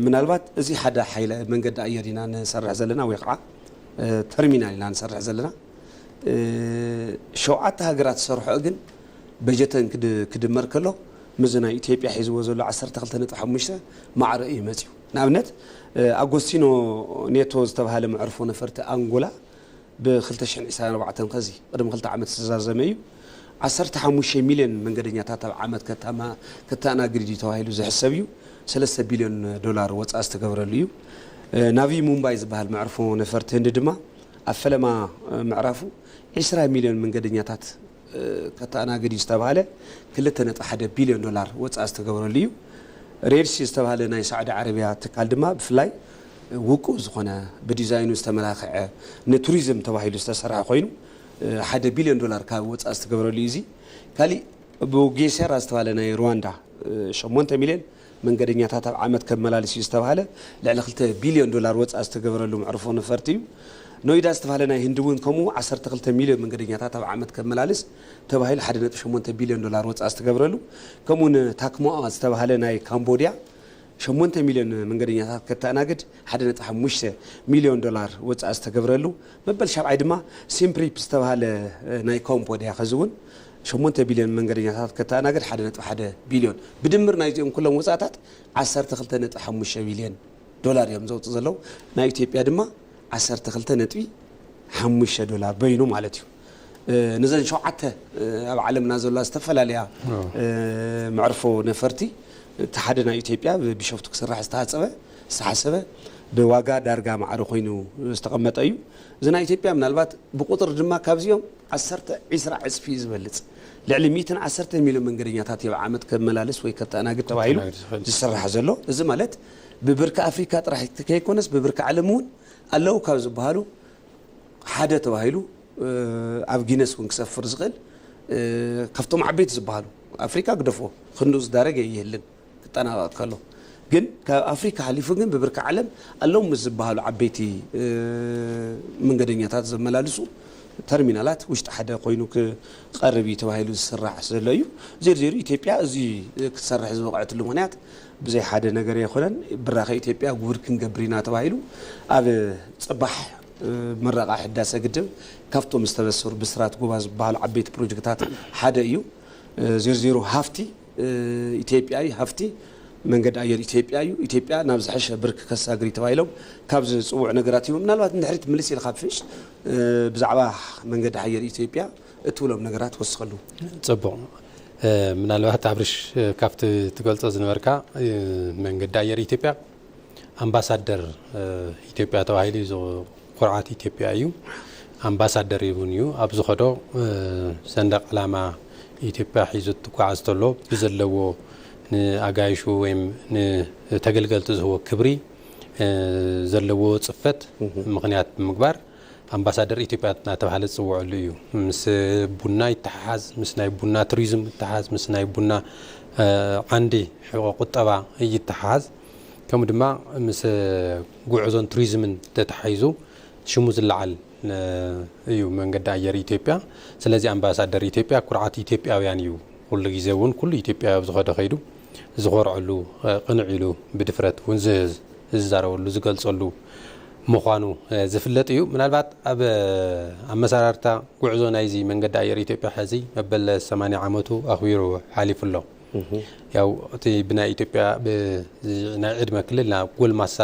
ምናልባት እዚ ሓደ ሓይለ መንገዲ ኣየር ኢና ንሰርሕ ዘለና ወይ ከዓ ተርሚናል ኢና ንሰርሕ ዘለና ሸውዓተ ሃገራት ዝሰርሖ ግን በጀተን ክድመር ከሎ ምስዚ ናይ ኢትዮጵያ ሒዝዎ ዘሎ ዓሰርተ ክልተ ነጥቢ ሓሙሽተ ማዕረ እዩ መጺኡ። ንኣብነት ኣጎስቲኖ ኔቶ ዝተብሃለ መዕርፎ ነፈርቲ ኣንጎላ ብ ክልተ ሽሕን ዒስራን ኣርባዕተን ከዚ ቅድሚ ክልተ ዓመት ዝተዛዘመ እዩ ዓሰርተ ሓሙሽተ ሚልዮን መንገደኛታት ኣብ ዓመት ከተኣናግድ እዩ ተባሂሉ ዝሕሰብ እዩ። ሰለስተ ቢልዮን ዶላር ወጻኢ ዝተገብረሉ እዩ። ናቪ ሙምባይ ዝበሃል መዕርፎ ነፈርቲ ህንዲ ድማ ኣብ ፈለማ ምዕራፉ ዒስራ ሚልዮን መንገደኛታት ከተኣናግድ እዩ ዝተብሃለ ክልተ ነጥቢ ሓደ ቢልዮን ዶላር ወፃኢ ዝተገበረሉ እዩ። ሬድ ሲ ዝተብሃለ ናይ ሳዑዲ ዓረብያ ትካል ድማ ብፍላይ ውቁብ ዝኾነ ብዲዛይኑ ዝተመላኸዐ ንቱሪዝም ተባሂሉ ዝተሰርሐ ኮይኑ ሓደ ቢልዮን ዶላር ካብ ወፃኢ ዝተገበረሉ እዩ። እዚ ካሊእ ብጌሴራ ዝተብሃለ ናይ ሩዋንዳ ሸሞንተ ሚልዮን መንገደኛታት ኣብ ዓመት ከመላልስ እዩ ዝተብሃለ ልዕሊ ክልተ ቢልዮን ዶላር ወፃኢ ዝተገበረሉ መዕርፎ ነፈርቲ እዩ። ኖይዳ ዝተብሃለ ናይ ህንዲ እውን ከምኡ ዓሰርተ ክልተ ሚልዮን መንገደኛታት ኣብ ዓመት ከመላልስ ተባሂሉ ሓደ ነጥቢ ሸሞንተ ቢልዮን ዶላር ወፃኢ ዝተገብረሉ ከምኡ እውን ታክሞኣ ዝተብሃለ ናይ ካምቦድያ ሸሞንተ ሚልዮን መንገደኛታት ከተኣናግድ ሓደ ነጥቢ ሓሙሽተ ሚልዮን ዶላር ወፃኢ ዝተገብረሉ መበል ሻብዓይ ድማ ሲምፕሪፕ ዝተብሃለ ናይ ካምቦድያ ከዚ እውን ሸሞንተ ቢልዮን መንገደኛታት ከተኣናግድ ሓደ ነጥቢ ሓደ ቢልዮን፣ ብድምር ናይዚኦም ኩሎም ወጻእታት ዓሰርተ ክልተ ነጥቢ ሓሙሽተ ቢልዮን ዶላር እዮም ዘውጽኡ ዘለዉ። ናይ ኢትዮጵያ ድማ ዓሰርተ ክልተ ነጥቢ ሓሙሽተ ዶላር በይኑ ማለት እዩ። ነዘን ሸውዓተ ኣብ ዓለምና ዘለዋ ዝተፈላለያ መዕርፎ ነፈርቲ እቲ ሓደ ናይ ኢትዮጵያ ብቢሾፍቱ ክስራሕ ዝተሃጸበ ዝተሓሰበ ብዋጋ ዳርጋ ማዕረ ኮይኑ ዝተቐመጠ እዩ። እዚ ናይ ኢትዮጵያ ምናልባት ብቁጽሪ ድማ ካብዚኦም ዓሰርተ ዒስራ ዕጽፊ ዝበልጽ፣ ልዕሊ ሚእትን ዓሰርተን ሚልዮን መንገደኛታት ዮብ ዓመት ከመላልስ ወይ ከተኣናግድ ተባሂሉ ከስተናግድ ዝኽእል እዩ። ዝስራሕ ዘሎ። እዚ ማለት ብብርኪ ኣፍሪካ ጥራሕ ከይኮነስ ብብርኪ ዓለም እውን ኣለዉ ካብ ዝበሃሉ ሓደ ተባሂሉ ኣብ ጊነስ እውን ክሰፍር ዝኽእል ካብቶም ዓበይቲ ዝበሃሉ ኣፍሪካ ግደፎ ክንድኡ ዝዳረግ ኣይህልን። ክጠናቐቕ ከሎ ግን ካብ ኣፍሪካ ሓሊፉ ግን ብብርኪ ዓለም ኣለዉ ምስ ዝበሃሉ ዓበይቲ መንገደኛታት ዘመላልሱ ተርሚናላት ውሽጢ ሓደ ኮይኑ ክቐርብ እዩ ተባሂሉ ዝስራሕ ዘሎ እዩ። ዜሩ ዜሩ ኢትዮጵያ እዚ ክትሰርሕ ዝበቕዐትሉ ምክንያት ብዘይ ሓደ ነገር ኣይኮነን። ብራኸ ኢትዮጵያ ጉብር ክንገብር ኢና ተባሂሉ ኣብ ፅባሕ ምረቓ ሕዳሰ ግድብ ካብቶም ዝተበሰሩ ብስራት ጎባ ዝበሃሉ ዓበይቲ ፕሮጀክታት ሓደ እዩ። ዜሩ ዜሩ ሃፍቲ ኢትዮጵያዊ ሃፍቲ መንገዲ ኣየር ኢትዮጵያ እዩ፣ ኢትዮጵያ ናብ ዝሐሸ ብርኪ ከሳግሪ ተባሂሎም ካብ ዝፅውዑ ነገራት እዮም። ምናልባት ንድሕሪት ምልስ ኢልካ ፍሽ ብዛዕባ መንገዲ ኣየር ኢትዮጵያ እትብሎም ነገራት ወስኸሉ። ፅቡቕ ምናልባት ኣብርሽ ካብቲ ትገልፆ ዝነበርካ መንገዲ ኣየር ኢትዮጵያ ኣምባሳደር ኢትዮጵያ ተባሂሉ እዩ ኩርዓት ኢትዮጵያ እዩ ኣምባሳደር እውን እዩ ኣብ ዝኸዶ ሰንደቅ ዕላማ ኢትዮጵያ ሒዙ ትጓዓዝ ተሎ ብዘለዎ ንኣጋይሹ ወይም ንተገልገልቲ ዝህቦ ክብሪ ዘለዎ ፅፈት ምክንያት ብምግባር ኣምባሳደር ኢትዮጵያ እናተባህለ ዝፅወዐሉ እዩ። ምስ ቡና ይተሓሓዝ፣ ምስ ናይ ቡና ቱሪዝም ይተሓሓዝ፣ ምስ ናይ ቡና ዓንዲ ሕቖ ቁጠባ ይተሓሓዝ ከምኡ ድማ ምስ ጉዕዞን ቱሪዝምን ተተሓሒዙ ሽሙ ዝለዓል እዩ መንገዲ ኣየር ኢትዮጵያ። ስለዚ ኣምባሳደር ኢትዮጵያ ኩርዓት ኢትዮጵያውያን እዩ። ኩሉ ግዜ እውን ኩሉ ኢትዮጵያዊ ኣብ ዝኸዶ ከይዱ ዝኾርዐሉ፣ ቅንዕ ኢሉ ብድፍረት እውን ዝዛረበሉ፣ ዝገልፀሉ፣ ምዃኑ ዝፍለጥ እዩ። ምናልባት ኣብ ኣመሰራርታ ጉዕዞ ናይዚ መንገዲ ኣየር ኢትዮጵያ ሕዚ መበል ሰማንያ ዓመቱ ኣኽቢሩ ሓሊፉ ኣሎ። ያው እቲ ብናይ ኢትዮጵያ ናይ ዕድመ ክልል ናብ ጎልማሳ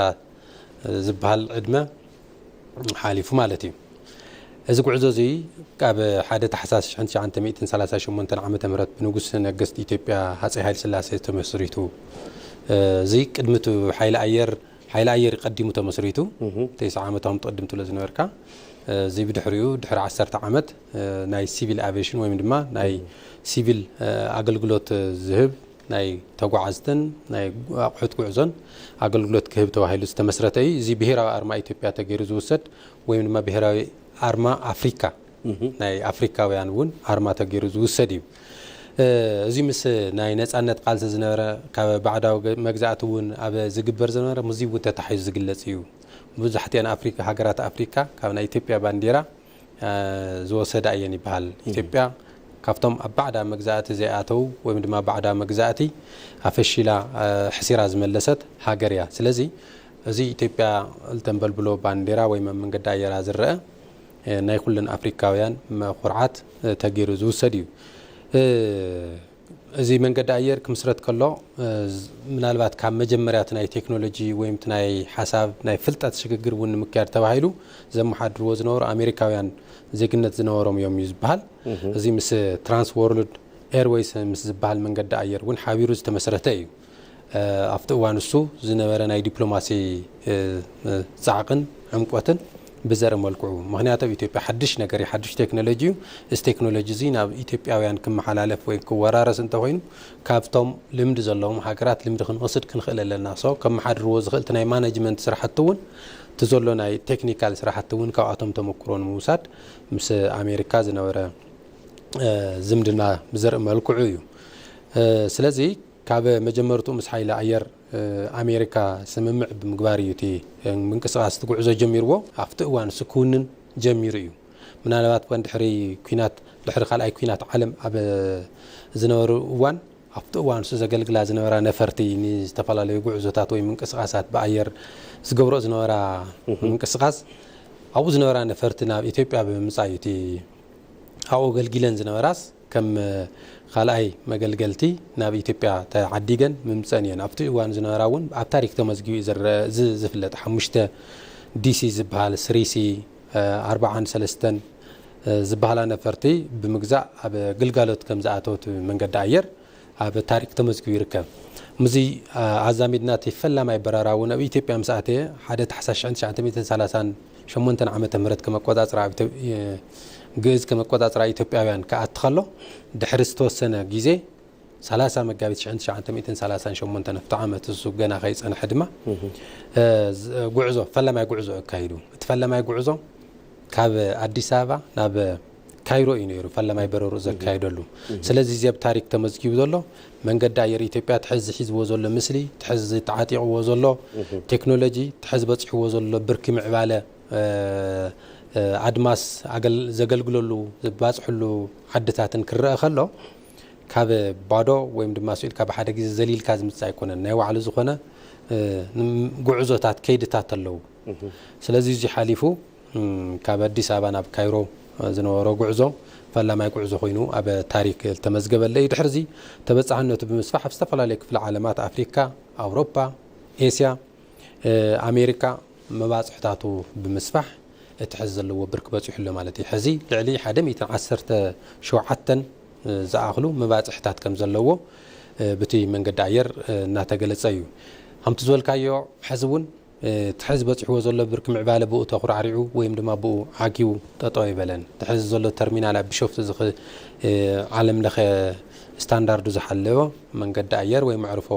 ዝበሃል ዕድመ ሓሊፉ ማለት እዩ። እዚ ጉዕዞ እዚ ኣብ ሓደ ታሕሳስ ሽሕን ትሽዓንተ ሚእትን ሰላሳ ሸሞንተን ዓመተ ምህረት ብንጉስ ነገስት ኢትዮጵያ ሃፀይ ሃይለስላሴ ተመስሪቱ እዚ ቅድሚ እቲ ሓይሊ ኣየር ሓይሊ ኣየር እዩ ቀዲሙ ተመስሪቱ ተስዓ ዓመት ኣም ትቕድም ትብሎ ዝነበርካ እዚ ብድሕሪኡ ድሕሪ ዓሰርተ ዓመት ናይ ሲቪል ኣቬሽን ወይም ድማ ናይ ሲቪል ኣገልግሎት ዝህብ ናይ ተጓዓዝትን ናይ ኣቑሑት ጉዕዞን ኣገልግሎት ክህብ ተባሂሉ ዝተመስረተ እዩ እዚ ብሄራዊ ኣርማ ኢትዮጵያ ተገይሩ ዝውሰድ ወይም ድማ ብሄራዊ ኣርማ ኣፍሪካ ናይ ኣፍሪካውያን እውን ኣርማ ተገይሩ ዝውሰድ እዩ። እዙይ ምስ ናይ ነፃነት ቃልሲ ዝነበረ ካብ ባዕዳዊ መግዛእቲ እውን ኣብ ዝግበር ዝነበረ ምስዙይ እውን ተታሒዙ ዝግለፅ እዩ። መብዛሕቲኤን ኣፍሪካ ሃገራት ኣፍሪካ ካብ ናይ ኢትዮጵያ ባንዲራ ዝወሰዳ እየን ይበሃል። ኢትዮጵያ ካብቶም ኣብ ባዕዳ መግዛእቲ ዘይኣተው ወይም ድማ ባዕዳ መግዛእቲ ኣፈሺላ ሕሲራ ዝመለሰት ሃገር እያ። ስለዚ እዙይ ኢትዮጵያ እተንበልብሎ ባንዲራ ወይም ኣብ መንገዲ ኣየራ ዝረኣ ናይ ኩለን ኣፍሪካውያን ኩርዓት ተገይሩ ዝውሰድ እዩ። እዚ መንገዲ ኣየር ክምስረት ከሎ ምናልባት ካብ መጀመርያ እቲ ናይ ቴክኖሎጂ ወይ እቲ ናይ ሓሳብ ናይ ፍልጠት ሽግግር እውን ንምክያድ ተባሂሉ ዘመሓድርዎ ዝነበሩ ኣሜሪካውያን ዜግነት ዝነበሮም እዮም እዩ ዝበሃል። እዚ ምስ ትራንስ ወርልድ ኤርዌይስ ምስ ዝበሃል መንገዲ ኣየር እውን ሓቢሩ ዝተመስረተ እዩ። ኣብቲ እዋን እሱ ዝነበረ ናይ ዲፕሎማሲ ጻዕቕን ዕምቆትን ብዘረ መልክዑ ምክንያት ኣብ ኢትዮጵያ ሓድሽ ነገር ሓድሽ ቴክኖሎጂ እዩ እዚ ቴክኖሎጂ እዚ ናብ ኢትዮጵያውያን ክመሓላለፍ ወይ ክወራረስ እንተኮይኑ ካብቶም ልምዲ ዘለዎም ሃገራት ልምዲ ክንወስድ ክንኽእል ኣለና ሶ ከመሓድርዎ ዝኽእል እቲ ናይ ማናጅመንት ስራሕቲ እውን እቲ ዘሎ ናይ ቴክኒካል ስራሕቲ እውን ካብኣቶም ተመክሮ ንምውሳድ ምስ ኣሜሪካ ዝነበረ ዝምድና ብዘርኢ መልክዑ እዩ ስለዚ ካብ መጀመርትኡ ምስ ሓይሊ ኣየር ኣሜሪካ ስምምዕ ብምግባር እዩ እቲ ምንቅስቓስ እቲ ጉዕዞ ጀሚርዎ። ኣብቲ እዋን ንሱ ክውንን ጀሚሩ እዩ። ምናልባት እኳ ድሕሪ ኲናት ድሕሪ ካልኣይ ኲናት ዓለም ኣብ ዝነበሩ እዋን ኣብቲ እዋን ንሱ ዘገልግላ ዝነበራ ነፈርቲ ንዝተፈላለዩ ጉዕዞታት ወይ ምንቅስቓሳት ብኣየር ዝገብርኦ ዝነበራ ምንቅስቓስ ኣብኡ ዝነበራ ነፈርቲ ናብ ኢትዮጵያ ብምምፃእ እዩ እቲ ኣብኡ ኣገልጊለን ዝነበራስ ከም ኻልኣይ መገልገልቲ ናብ ኢትዮጵያ ተዓዲገን ምምፀኣን እየን። ኣብቲ እዋን ዝነበራ እውን ኣብ ታሪክ ተመዝጊቡ እዩ ዝረኣ እዚ ዝፍለጥ ሓሙሽተ ዲሲ ዝበሃል ስሪሲ ኣርባዓን ሰለስተን ዝበሃላ ነፈርቲ ብምግዛእ ኣብ ግልጋሎት ከም ዝኣተወት መንገዲ ኣየር ኣብ ታሪክ ተመዝጊቡ ይርከብ። ምስዚ ኣዛሚድና እቲ ፈላማይ በረራ እውን ኣብ ኢትዮጵያ ምስ ኣተየ ሓደ ታሕሳስ ሽሕን ትሽዓተ ሚእትን ሰላሳን ሸሞንተ ዓመተ ምህረት ከም ኣቆጻጽራ ግእዝ ከም ኣቆጻጽራ ኢትዮጵያውያን ክኣቲ ከሎ ድሕሪ ዝተወሰነ ግዜ ሰላሳ መጋቢት ሽሕን ትሽዓንተ ሚእትን ሰላሳን ሸሞንተን ኣብቲ ዓመት እሱ ገና ከይጸንሐ ድማ ጉዕዞ ፈላማይ ጉዕዞ ኣካይዱ እቲ ፈላማይ ጉዕዞ ካብ ኣዲስ ኣበባ ናብ ካይሮ እዩ ነይሩ ፈለማይ በረርኡ ዘካየደሉ። ስለዚ እዚ ኣብ ታሪክ ተመዝጊቡ ዘሎ መንገዲ ኣየር ኢትዮጵያ ትሕዚ ሒዝዎ ዘሎ ምስሊ፣ ትሕዚ ተዓጢቕዎ ዘሎ ቴክኖሎጂ፣ ትሕዚ በፂሕዎ ዘሎ ብርኪ ምዕባለ ኣድማስ ዘገልግለሉ ዝባፅሕሉ ዓድታትን ክረኣ ከሎ ካብ ባዶ ወይም ድማ ስኡ ኢልካ ብሓደ ግዜ ዘሊልካ ዝምፅእ ኣይኮነን። ናይ ባዕሉ ዝኾነ ጉዕዞታት፣ ከይድታት ኣለዉ። ስለዚ እዙይ ሓሊፉ፣ ካብ ኣዲስ ኣበባ ናብ ካይሮ ዝነበሮ ጉዕዞ ፈላማይ ጉዕዞ ኮይኑ ኣብ ታሪክ ዝተመዝገበለ እዩ። ድሕሪዚ ተበፃሕነቱ ብምስፋሕ ኣብ ዝተፈላለዩ ክፍለ ዓለማት ኣፍሪካ፣ ኣውሮፓ፣ ኤስያ፣ ኣሜሪካ መባፅሕታቱ ብምስፋሕ እቲ ሕዚ ዘለዎ ብርኪ በፂሑ ኣሎ ማለት እዩ። ሕዚ ልዕሊ ሓደ ሚእትን ዓሰርተ ሸውዓተን ዝኣኽሉ መባፅሕታት ከምዘለዎ ብቲ መንገዲ ኣየር እናተገለፀ እዩ። ከምቲ ዝበልካዮ ሕዚ እውን እቲ ሐዚ በፂሕዎ ዘሎ ብርኪ ምዕባለ ብኡ ተኹራዕሪዑ ወይም ድማ ብኡ ዓጊቡ ጠጠው ኣይበለን። እቲ ሐዚ ዘሎ ተርሚናል ኣብ ቢሾፍቱ እዚ ዓለም ለኸ ስታንዳርዱ ዝሓለወ መንገዲ ኣየር ወይ መዕርፎ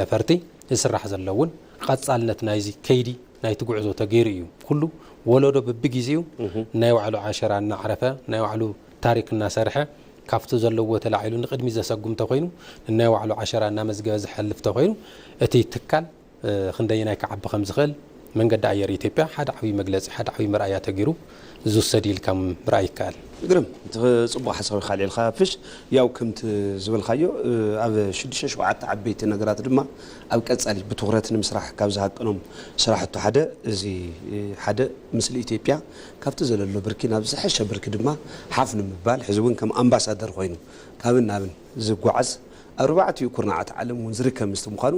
ነፈርቲ ዝስራሕ ዘሎ እውን ቐፃልነት ናይዚ ከይዲ ናይቲ ጉዕዞ ተገይሩ እዩ። ኩሉ ወለዶ በቢጊዚኡ ናይ ባዕሉ ዓሸራ እናዕረፈ ናይ ባዕሉ ታሪክ እናሰርሐ ካፍቲ ዘለዎ ተላዒሉ ንቕድሚት ዘሰጉም ተኾይኑ ንናይ ባዕሉ ዓሸራ እናመዝገበ ዝሐልፍ ተኾይኑ እቲ ትካል ክንደየናይ ክዓቢ ከምዝኽእል መንገዲ ኣየር ኢትዮጵያ ሓደ ዓብይ መግለፂ፣ ሓደ ዓብይ መርኣያ ተገይሩ ዝውሰድ እዩ ኢልካ ምርኣይ ይከኣል። ግርም ጽቡቅ ሓሳብ ኢካ ኣልዒልካ ፍሽ ያው ክምቲ ዝበልካዮ ኣብ ሽዱሽተ ሸውዓተ ዓበይቲ ነገራት ድማ ኣብ ቀጻሊ ብትኩረት ንምስራሕ ካብ ዝሃቅኖም ስራሕቱ ሓደ እዚ ሓደ ምስሊ ኢትዮጵያ ካብቲ ዘለሎ ብርኪ ናብ ዝሐሸ ብርኪ ድማ ሓፍ ንምባል ሕዚ ውን ከም ኣምባሳደር ኮይኑ ካብን ናብን ዝጓዓዝ ኣብ ኣርባዕቲኡ ኩርናዓት ዓለም ውን ዝርከብ ምስቲ ምኳኑ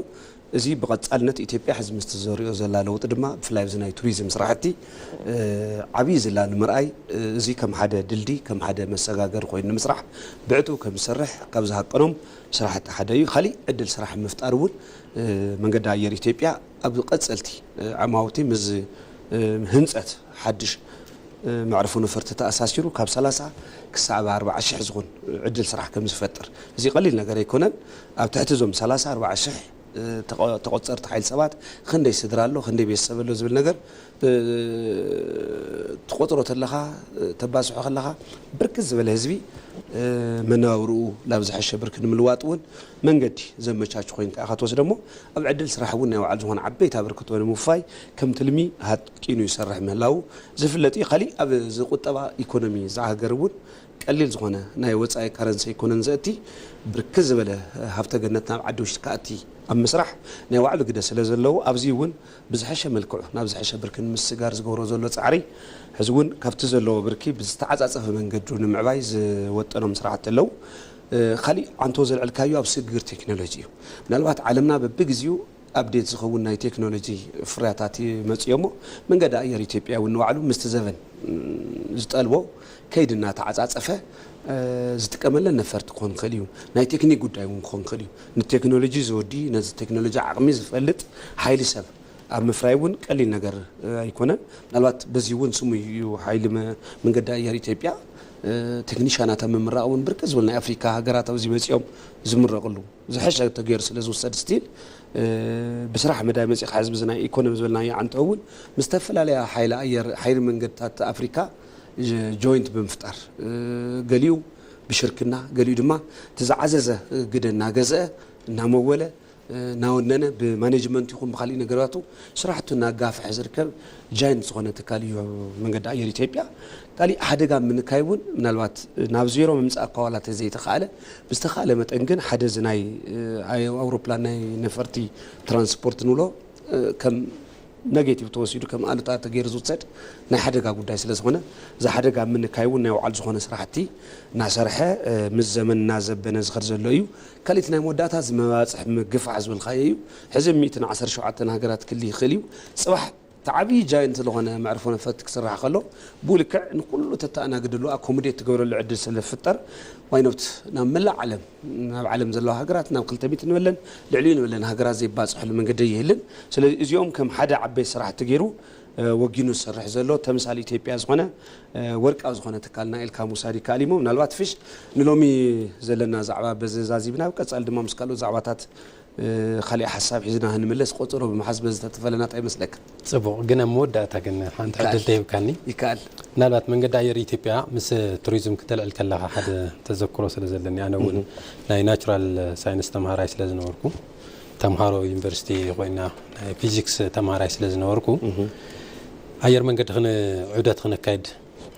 እዚ ብቐፃልነት ኢትዮጵያ ሕዚ ምስቲ ዘርእዮ ዘላ ለውጢ ድማ ብፍላይ ኣብዚ ናይ ቱሪዝም ስራሕቲ ዓብዪ ዝላ ንምርኣይ እዚ ከም ሓደ ድልድይ ከም ሓደ መሰጋገሪ ኮይኑ ንምስራሕ ብዕቱብ ከምዝሰርሕ ካብ ዝሃቀኖም ስራሕቲ ሓደ እዩ። ካሊእ ዕድል ስራሕ ንምፍጣር እውን መንገዲ ኣየር ኢትዮጵያ ኣብ ቀፀልቲ ዓማውቲ ምስ ህንፀት ሓድሽ መዕርፎ ነፈርቲ ተኣሳሲሩ ካብ ሰላሳ ክሳዕብ ኣርብዓ ሽሕ ዝኹን ዕድል ስራሕ ከምዝፈጥር እዚ ቀሊል ነገር ኣይኮነን። ኣብ ትሕቲ እዞም ሰላሳ ኣርብዓ ሽሕ ተቖፀርቲ ሓይሊ ሰባት ኽንደይ ስድራ ኣሎ ኽንደይ ቤተሰብ ኣሎ ዝብል ነገር ትቖፅሮ ተለኻ ተባዝሖ ኸለኻ ብርክት ዝበለ ህዝቢ መነባብርኡ ናብ ዝሐሸ ብርኪ ንምልዋጥ እውን መንገዲ ዘመቻቹ ኮይንካ ኢኻ ትወስደሞ ኣብ ዕድል ስራሕ እውን ናይ ባዕሉ ዝኾነ ዓበይቲ ኣበርክቶ ንምውፋይ ከም ትልሚ ኪኑ ይሰርሕ ምህላዉ ዝፍለጥ እዩ። ካሊእ ኣብ እዚ ቁጠባ ኢኮኖሚ እዛ ሃገር እውን ቀሊል ዝኾነ ናይ ወፃኢ ካረንሲ ኣይኮነን ዘእቲ። ብርክት ዝበለ ሃፍተ ገነት ናብ ዓዲ ውሽጢ ክኣቲ ኣብ ምስራሕ ናይ ባዕሉ ግደ ስለ ዘለዎ ኣብዙይ እውን ብዝሐሸ መልክዑ ናብ ዝሐሸ ብርኪ ንምስግጋር ዝገብሮ ዘሎ ፃዕሪ ሕዚ እውን ካብቲ ዘለዎ ብርኪ ብዝተዓፃፀፈ መንገዱ ንምዕባይ ዝወጠኖም ስራሕቲ ኣለዉ። ካሊእ ዓንቶ ዘልዕልካዮ ኣብ ስግግር ቴክኖሎጂ እዩ። ምናልባት ዓለምና በቢግዚኡ ኣፕዴት ዝኸውን ናይ ቴክኖሎጂ ፍርያታት ይመፅእዮሞ መንገዲ ኣየር ኢትዮጵያ እውን ንባዕሉ ምስቲ ዘበን ዝጠልቦ ከይዲ እናተዓፃፀፈ ዝጥቀመለን ነፈርቲ ክኾን ይኽእል እዩ። ናይ ቴክኒክ ጉዳይ እውን ክኾን ይኽእል እዩ። ንቴክኖሎጂ ዝወዲ ነዚ ቴክኖሎጂ ዓቕሚ ዝፈልጥ ሓይሊ ሰብ ኣብ ምፍራይ እውን ቀሊል ነገር ኣይኮነን። ምናልባት በዚ እውን ስሙይ እዩ ሓይሊ መንገዲ ኣየር ኢትዮጵያ። ቴክኒሻናት ኣብ ምምራቕ እውን ብርክት ዝበሉ ናይ ኣፍሪካ ሃገራት ኣብዚ መፂኦም ዝምረቕሉ። ዝሐሸ ተገይሩ ስለ ዝውሰድ ስቲል ብስራሕ መዳይ መፂእኻ ሕዝቢ እዚ ናይ ኢኮኖሚ ዝበልናዮ ዓንተው እውን ምስ ዝተፈላለያ ሓይሊ ኣየር ሓይሊ መንገድታት ኣፍሪካ ጆይንት ብምፍጣር ገሊኡ ብሽርክና ገሊኡ ድማ እቲ ዝዓዘዘ ግደ እናገዘአ እናመወለ እናወነነ ብማኔጅመንት ይኹን ብካሊእ ነገራቱ ስራሕቱ እናጋፈሐ ዝርከብ ጃይንት ዝኾነ ትካል እዩ መንገዲ ኣየር ኢትዮጵያ ካሊእ ሓደጋ ኣብ ምንካይ እውን ምናልባት ናብ ዜሮ ምምፃእ እኳ ዋላ ተዘይተኻእለ ብዝተኻእለ መጠን ግን ሓደ እዚ ናይ ኣውሮፕላን ናይ ነፈርቲ ትራንስፖርት ንብሎ ከም ነጌቲቭ ተወሲዱ ከም ኣሉታ ተገይሩ ዝውሰድ ናይ ሓደጋ ጉዳይ ስለ ዝኾነ እዚ ሓደጋ ኣብ ምንካይ እውን ናይ ባዕሉ ዝኾነ ስራሕቲ እናሰርሐ ምስ ዘመን እናዘበነ ዝኸድ ዘሎ እዩ። ካልእ እቲ ናይ መወዳእታ እዚ መባፅሒ ምግፋሕ ዝበልካዮ እዩ። ሕዚ ሚእትን ዓሰርተ ሸውዓተን ሃገራት ክሊ ይክእል እዩ ጽባሕ እቲ ዓብይ ጃይንት ልኾነ መዕርፎ ነፈት ክስራሕ ከሎ ብኡ ልክዕ ንኩሉ ተታኣናግድሉ ኣኮሙዴት ትገብረሉ ዕድል ስለ ዝፍጠር ዋይኖት ናብ መላእ ዓለም ናብ ዓለም ዘለዋ ሃገራት ናብ ክልተ ሚእቲ ንበለን ልዕሊኡ ንበለን ሃገራት ዘይባጽሕሉ መንገዲ ኣይህልን ስለዚ እዚኦም ከም ሓደ ዓበይቲ ስራሕቲ ገይሩ ወጊኑ ዝሰርሕ ዘሎ ተምሳል ኢትዮጵያ ዝኾነ ወርቃዊ ዝኾነ ትካልና ኢልካ ምውሳድ ይከኣል እዩሞ ምናልባት ፍሽ ንሎሚ ዘለና ዛዕባ በዚ ዛዚብና ኣብ ቀጻሊ ድማ ምስ ካልኦት ዛዕባታት ካሊእ ሓሳብ ሒዝና ክንምለስ ቆጸሮ ብምሓዝ በዚ ተትፈለና ታይ ይመስለካ? ጽቡቕ ግን ኣብ መወዳእታ ግን ሓንቲ ዕድል ተሂብካኒ ይከኣል። ምናልባት መንገዲ ኣየር ኢትዮጵያ ምስ ቱሪዝም ክተልዕል ከለኻ ሓደ ተዘክሮ ስለ ዘለኒ ኣነ እውን ናይ ናቹራል ሳይንስ ተምሃራይ ስለ ዝነበርኩ ተምሃሮ ዩኒቨርሲቲ ኮይና ናይ ፊዚክስ ተምሃራይ ስለ ዝነበርኩ ኣየር መንገዲ ክን ዑደት ክነካይድ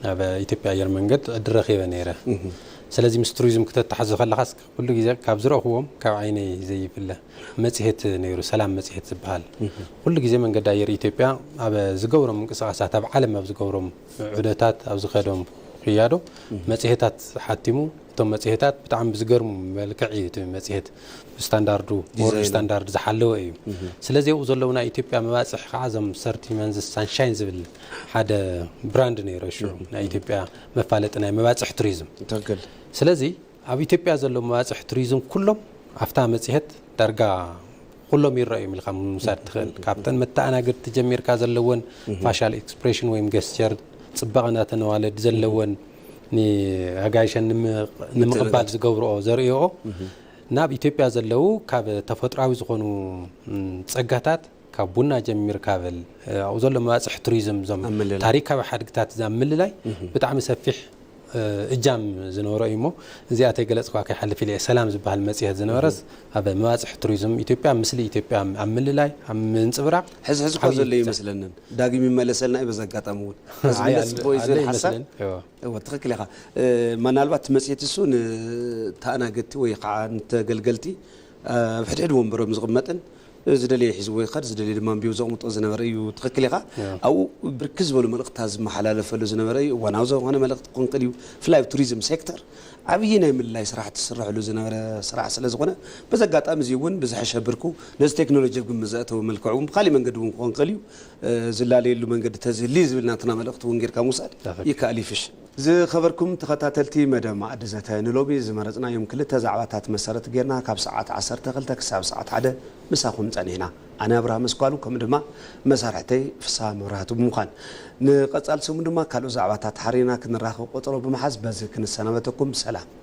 ናብ ኢትዮጵያ ኣየር መንገድ ዕድል ረኺበ ነይረ። ስለዚ ምስ ቱሪዝም ክተተሓዞ ከለኻስ ኩሉ ግዜ ካብ ዝረእኹዎም ካብ ዓይነይ ዘይፍለ መጽሄት ነይሩ ሰላም መጽሄት ዝብሃል ኩሉ ግዜ መንገዲ ኣየር ኢትዮጵያ ኣብ ዝገብሮም ምንቅስቓሳት ኣብ ዓለም ኣብ ዝገብሮም ዑደታት ኣብ ዝኸዶም ክያዶ መጽሄታት ሓቲሙ እቶም መጽሄታት ብጣዕሚ ብዝገርሙ መልክዕ እዩ እቲ መጽሄት ስታንዳርዱ ወርልድ ስታንዳርድ ዝሓለወ እዩ ስለዚ ኣብኡ ዘለዉ ናይ ኢትዮጵያ መባፅሒ ከዓ እዞም ሰርቲ መንዝስ ሳንሻይን ዝብል ሓደ ብራንድ ነይሮ ሽዑ ናይ ኢትዮጵያ መፋለጢ ናይ መባፅሒ ቱሪዝም ስለዚ ኣብ ኢትዮጵያ ዘሎ መባፅሕ ቱሪዝም ኩሎም ኣፍታ መፅሄት ዳርጋ ኩሎም ይረኣዩ እዮም ኢልካ ምውሳድ ትኽእል። ካብተን መተኣናገድቲ ጀሚርካ ዘለወን ፋሻል ኤክስፕሬሽን ወይም ገስቸር ፅባቐ እንዳተነዋለድ ዘለወን ንኣጋይሸን ንምቕባል ዝገብርኦ ዘርእይኦ ናብ ኢትዮጵያ ዘለው ካብ ተፈጥሮኣዊ ዝኾኑ ፀጋታት ካብ ቡና ጀሚርካ በል ኣብኡ ዘሎ መባፅሒ ቱሪዝም እዞም ኣብ ምልላይ። ታሪካዊ ሓድግታት እዛ ምልላይ ብጣዕሚ ሰፊሕ እ፣ እጃም ዝነበሮ እዩ እሞ እዚኣ ተይገለፅክዋ ከይሓልፍ ኢለ እየ። ሰላም ዝበሃል መፅሄት ዝነበረስ ኣብ መባፅሒ ቱሪዝም ኢትዮጵያ ምስሊ ኢትዮጵያ ኣብ ምልላይ ኣብ ምንፅብራቕ ሕዚ ሕዚ እኳ ዓብዪ ዘሎ እዩ እጃም መስለንን ዳግም ይመለሰልና እዩ በዚ ኣጋጣሚ እውን ሕዚ ኣይ፣ ምለስ ኣለ- ጽቡቅ እዩ ኣለ ዝብል ሓሳብ ይመስለን። እዎ። እወ ትኽክል ኢኻ እ፣ ምናልባት እቲ መፅሄት እሱ ንተኣናገድቲ ወይ ከዓ ንተገልገልቲ ኣብ ሕድሕድ ወንበሩ እዮም ዝቕመጥን ዝደለየ ሒዝዎ ይኸድ ዝደለየ ድማ ኣንቢቡ ዘቕምጦ ዝነበረ እዩ ትኽክል ኢኻ ኣብኡ ብርክት ዝበሉ መልእኽትታት ዝመሓላለፈሉ ዝነበረ እዩ እዋናዊ ዝኾነ መልእኽቲ ክኾን ክእል እዩ ብፍላይ ኣብ ቱሪዝም ሴክተር ዓብዪ ናይ ምልላይ ስራሕቲ ዝስረሐሉ ዝነበረ ስራሕ ስለ ዝኾነ በዚ ኣጋጣሚ እዚ እውን ብዝሐሸ ብርኩ ነዚ ቴክኖሎጂ ኣብ ግምት ዘእተወ መልክዕ እውን ብካሊእ መንገዲ እውን ክኾን ክእል እዩ ዝላለየሉ መንገዲ ተዝህሊ ዝብል ናትና መልእኽቲ እውን ጌርካ ምውሳድ ይከኣል ይፍሽ ዝኸበርኩም ተኸታተልቲ መደብ መኣዲ ዘተ፣ ንሎሚ ዝመረጽናዮም ክልተ ዛዕባታት መሰረት ጌርና ካብ ሰዓት ዓሰርተ ክልተ ክሳብ ሰዓት ሓደ ምሳኹም ጸኒሕና። ኣነ ኣብርሃም ኣስኳሉ ከምኡ ድማ መሳርሕተይ ፍስሃ መብራህቱ ብምዃን። ንቐጻሊ ሰሙን ድማ ካልኦት ዛዕባታት ሓሪና ክንራኸብ ቆጸሮ ብምሓዝ በዚ ክንሰናበተኩም ሰላም።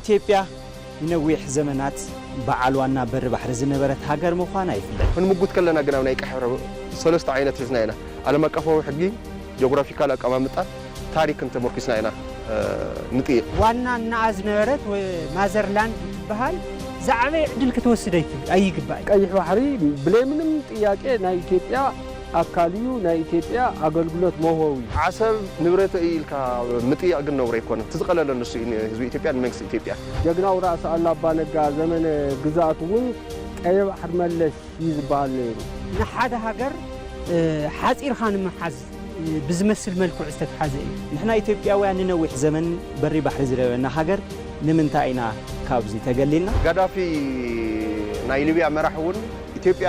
ኢትዮጵያ ንነዊሕ ዘመናት በዓል ዋና በሪ ባሕሪ ዝነበረት ሃገር ምዃና ይፍለጥ። ክንምጉት ከለና ግን ኣብ ናይ ቀይሕ ባሕሪ ሰለስተ ዓይነት ሒዝና ኢና። ዓለም ኣቀፋዊ ሕጊ፣ ጆግራፊካል ኣቀማምጣን ታሪክን ተመርኲስና ኢና ንጥይቕ። ዋና እንኣ ዝነበረት ወይ ማዘርላንድ እትበሃል ዝዓበየ ዕድል ክትወስድ ኣይትብል ኣይግባእን። ቀይሕ ባሕሪ ብለይ ምንም ጥያቄ ናይ ኢትዮጵያ። ኣካል እዩ ናይ ኢትዮጵያ ኣገልግሎት መውሀዊ። ዓሰብ ንብረተይ እዩ ኢልካ ምጥያቕ ግን ነውሪ ኣይኮነን። እቲ ዝቐለለ ንሱ እዩ ንህዝቢ ኢትዮጵያን ንመንግስቲ ኢትዮጵያን። ጀግናው ራእሲ ኣሉ ኣባ ነጋ ዘመነ ግዝኣቱ እውን ቀይሕ ባሕሪ መለስ እዩ ዝበሃል ነይሩ። ንሓደ ሃገር ሓፂርኻ ንምሓዝ ብዝመስል መልክዑ ዝተትሓዘ እዩ። ንሕና ኢትዮጵያውያን ንነዊሕ ዘመን በሪ ባሕሪ ዝነበረና ሃገር ንምንታይ ኢና ካብዚ ተገሊልና? ጋዳፊ ናይ ሊብያ መራሒ እውን ኢትዮጵያ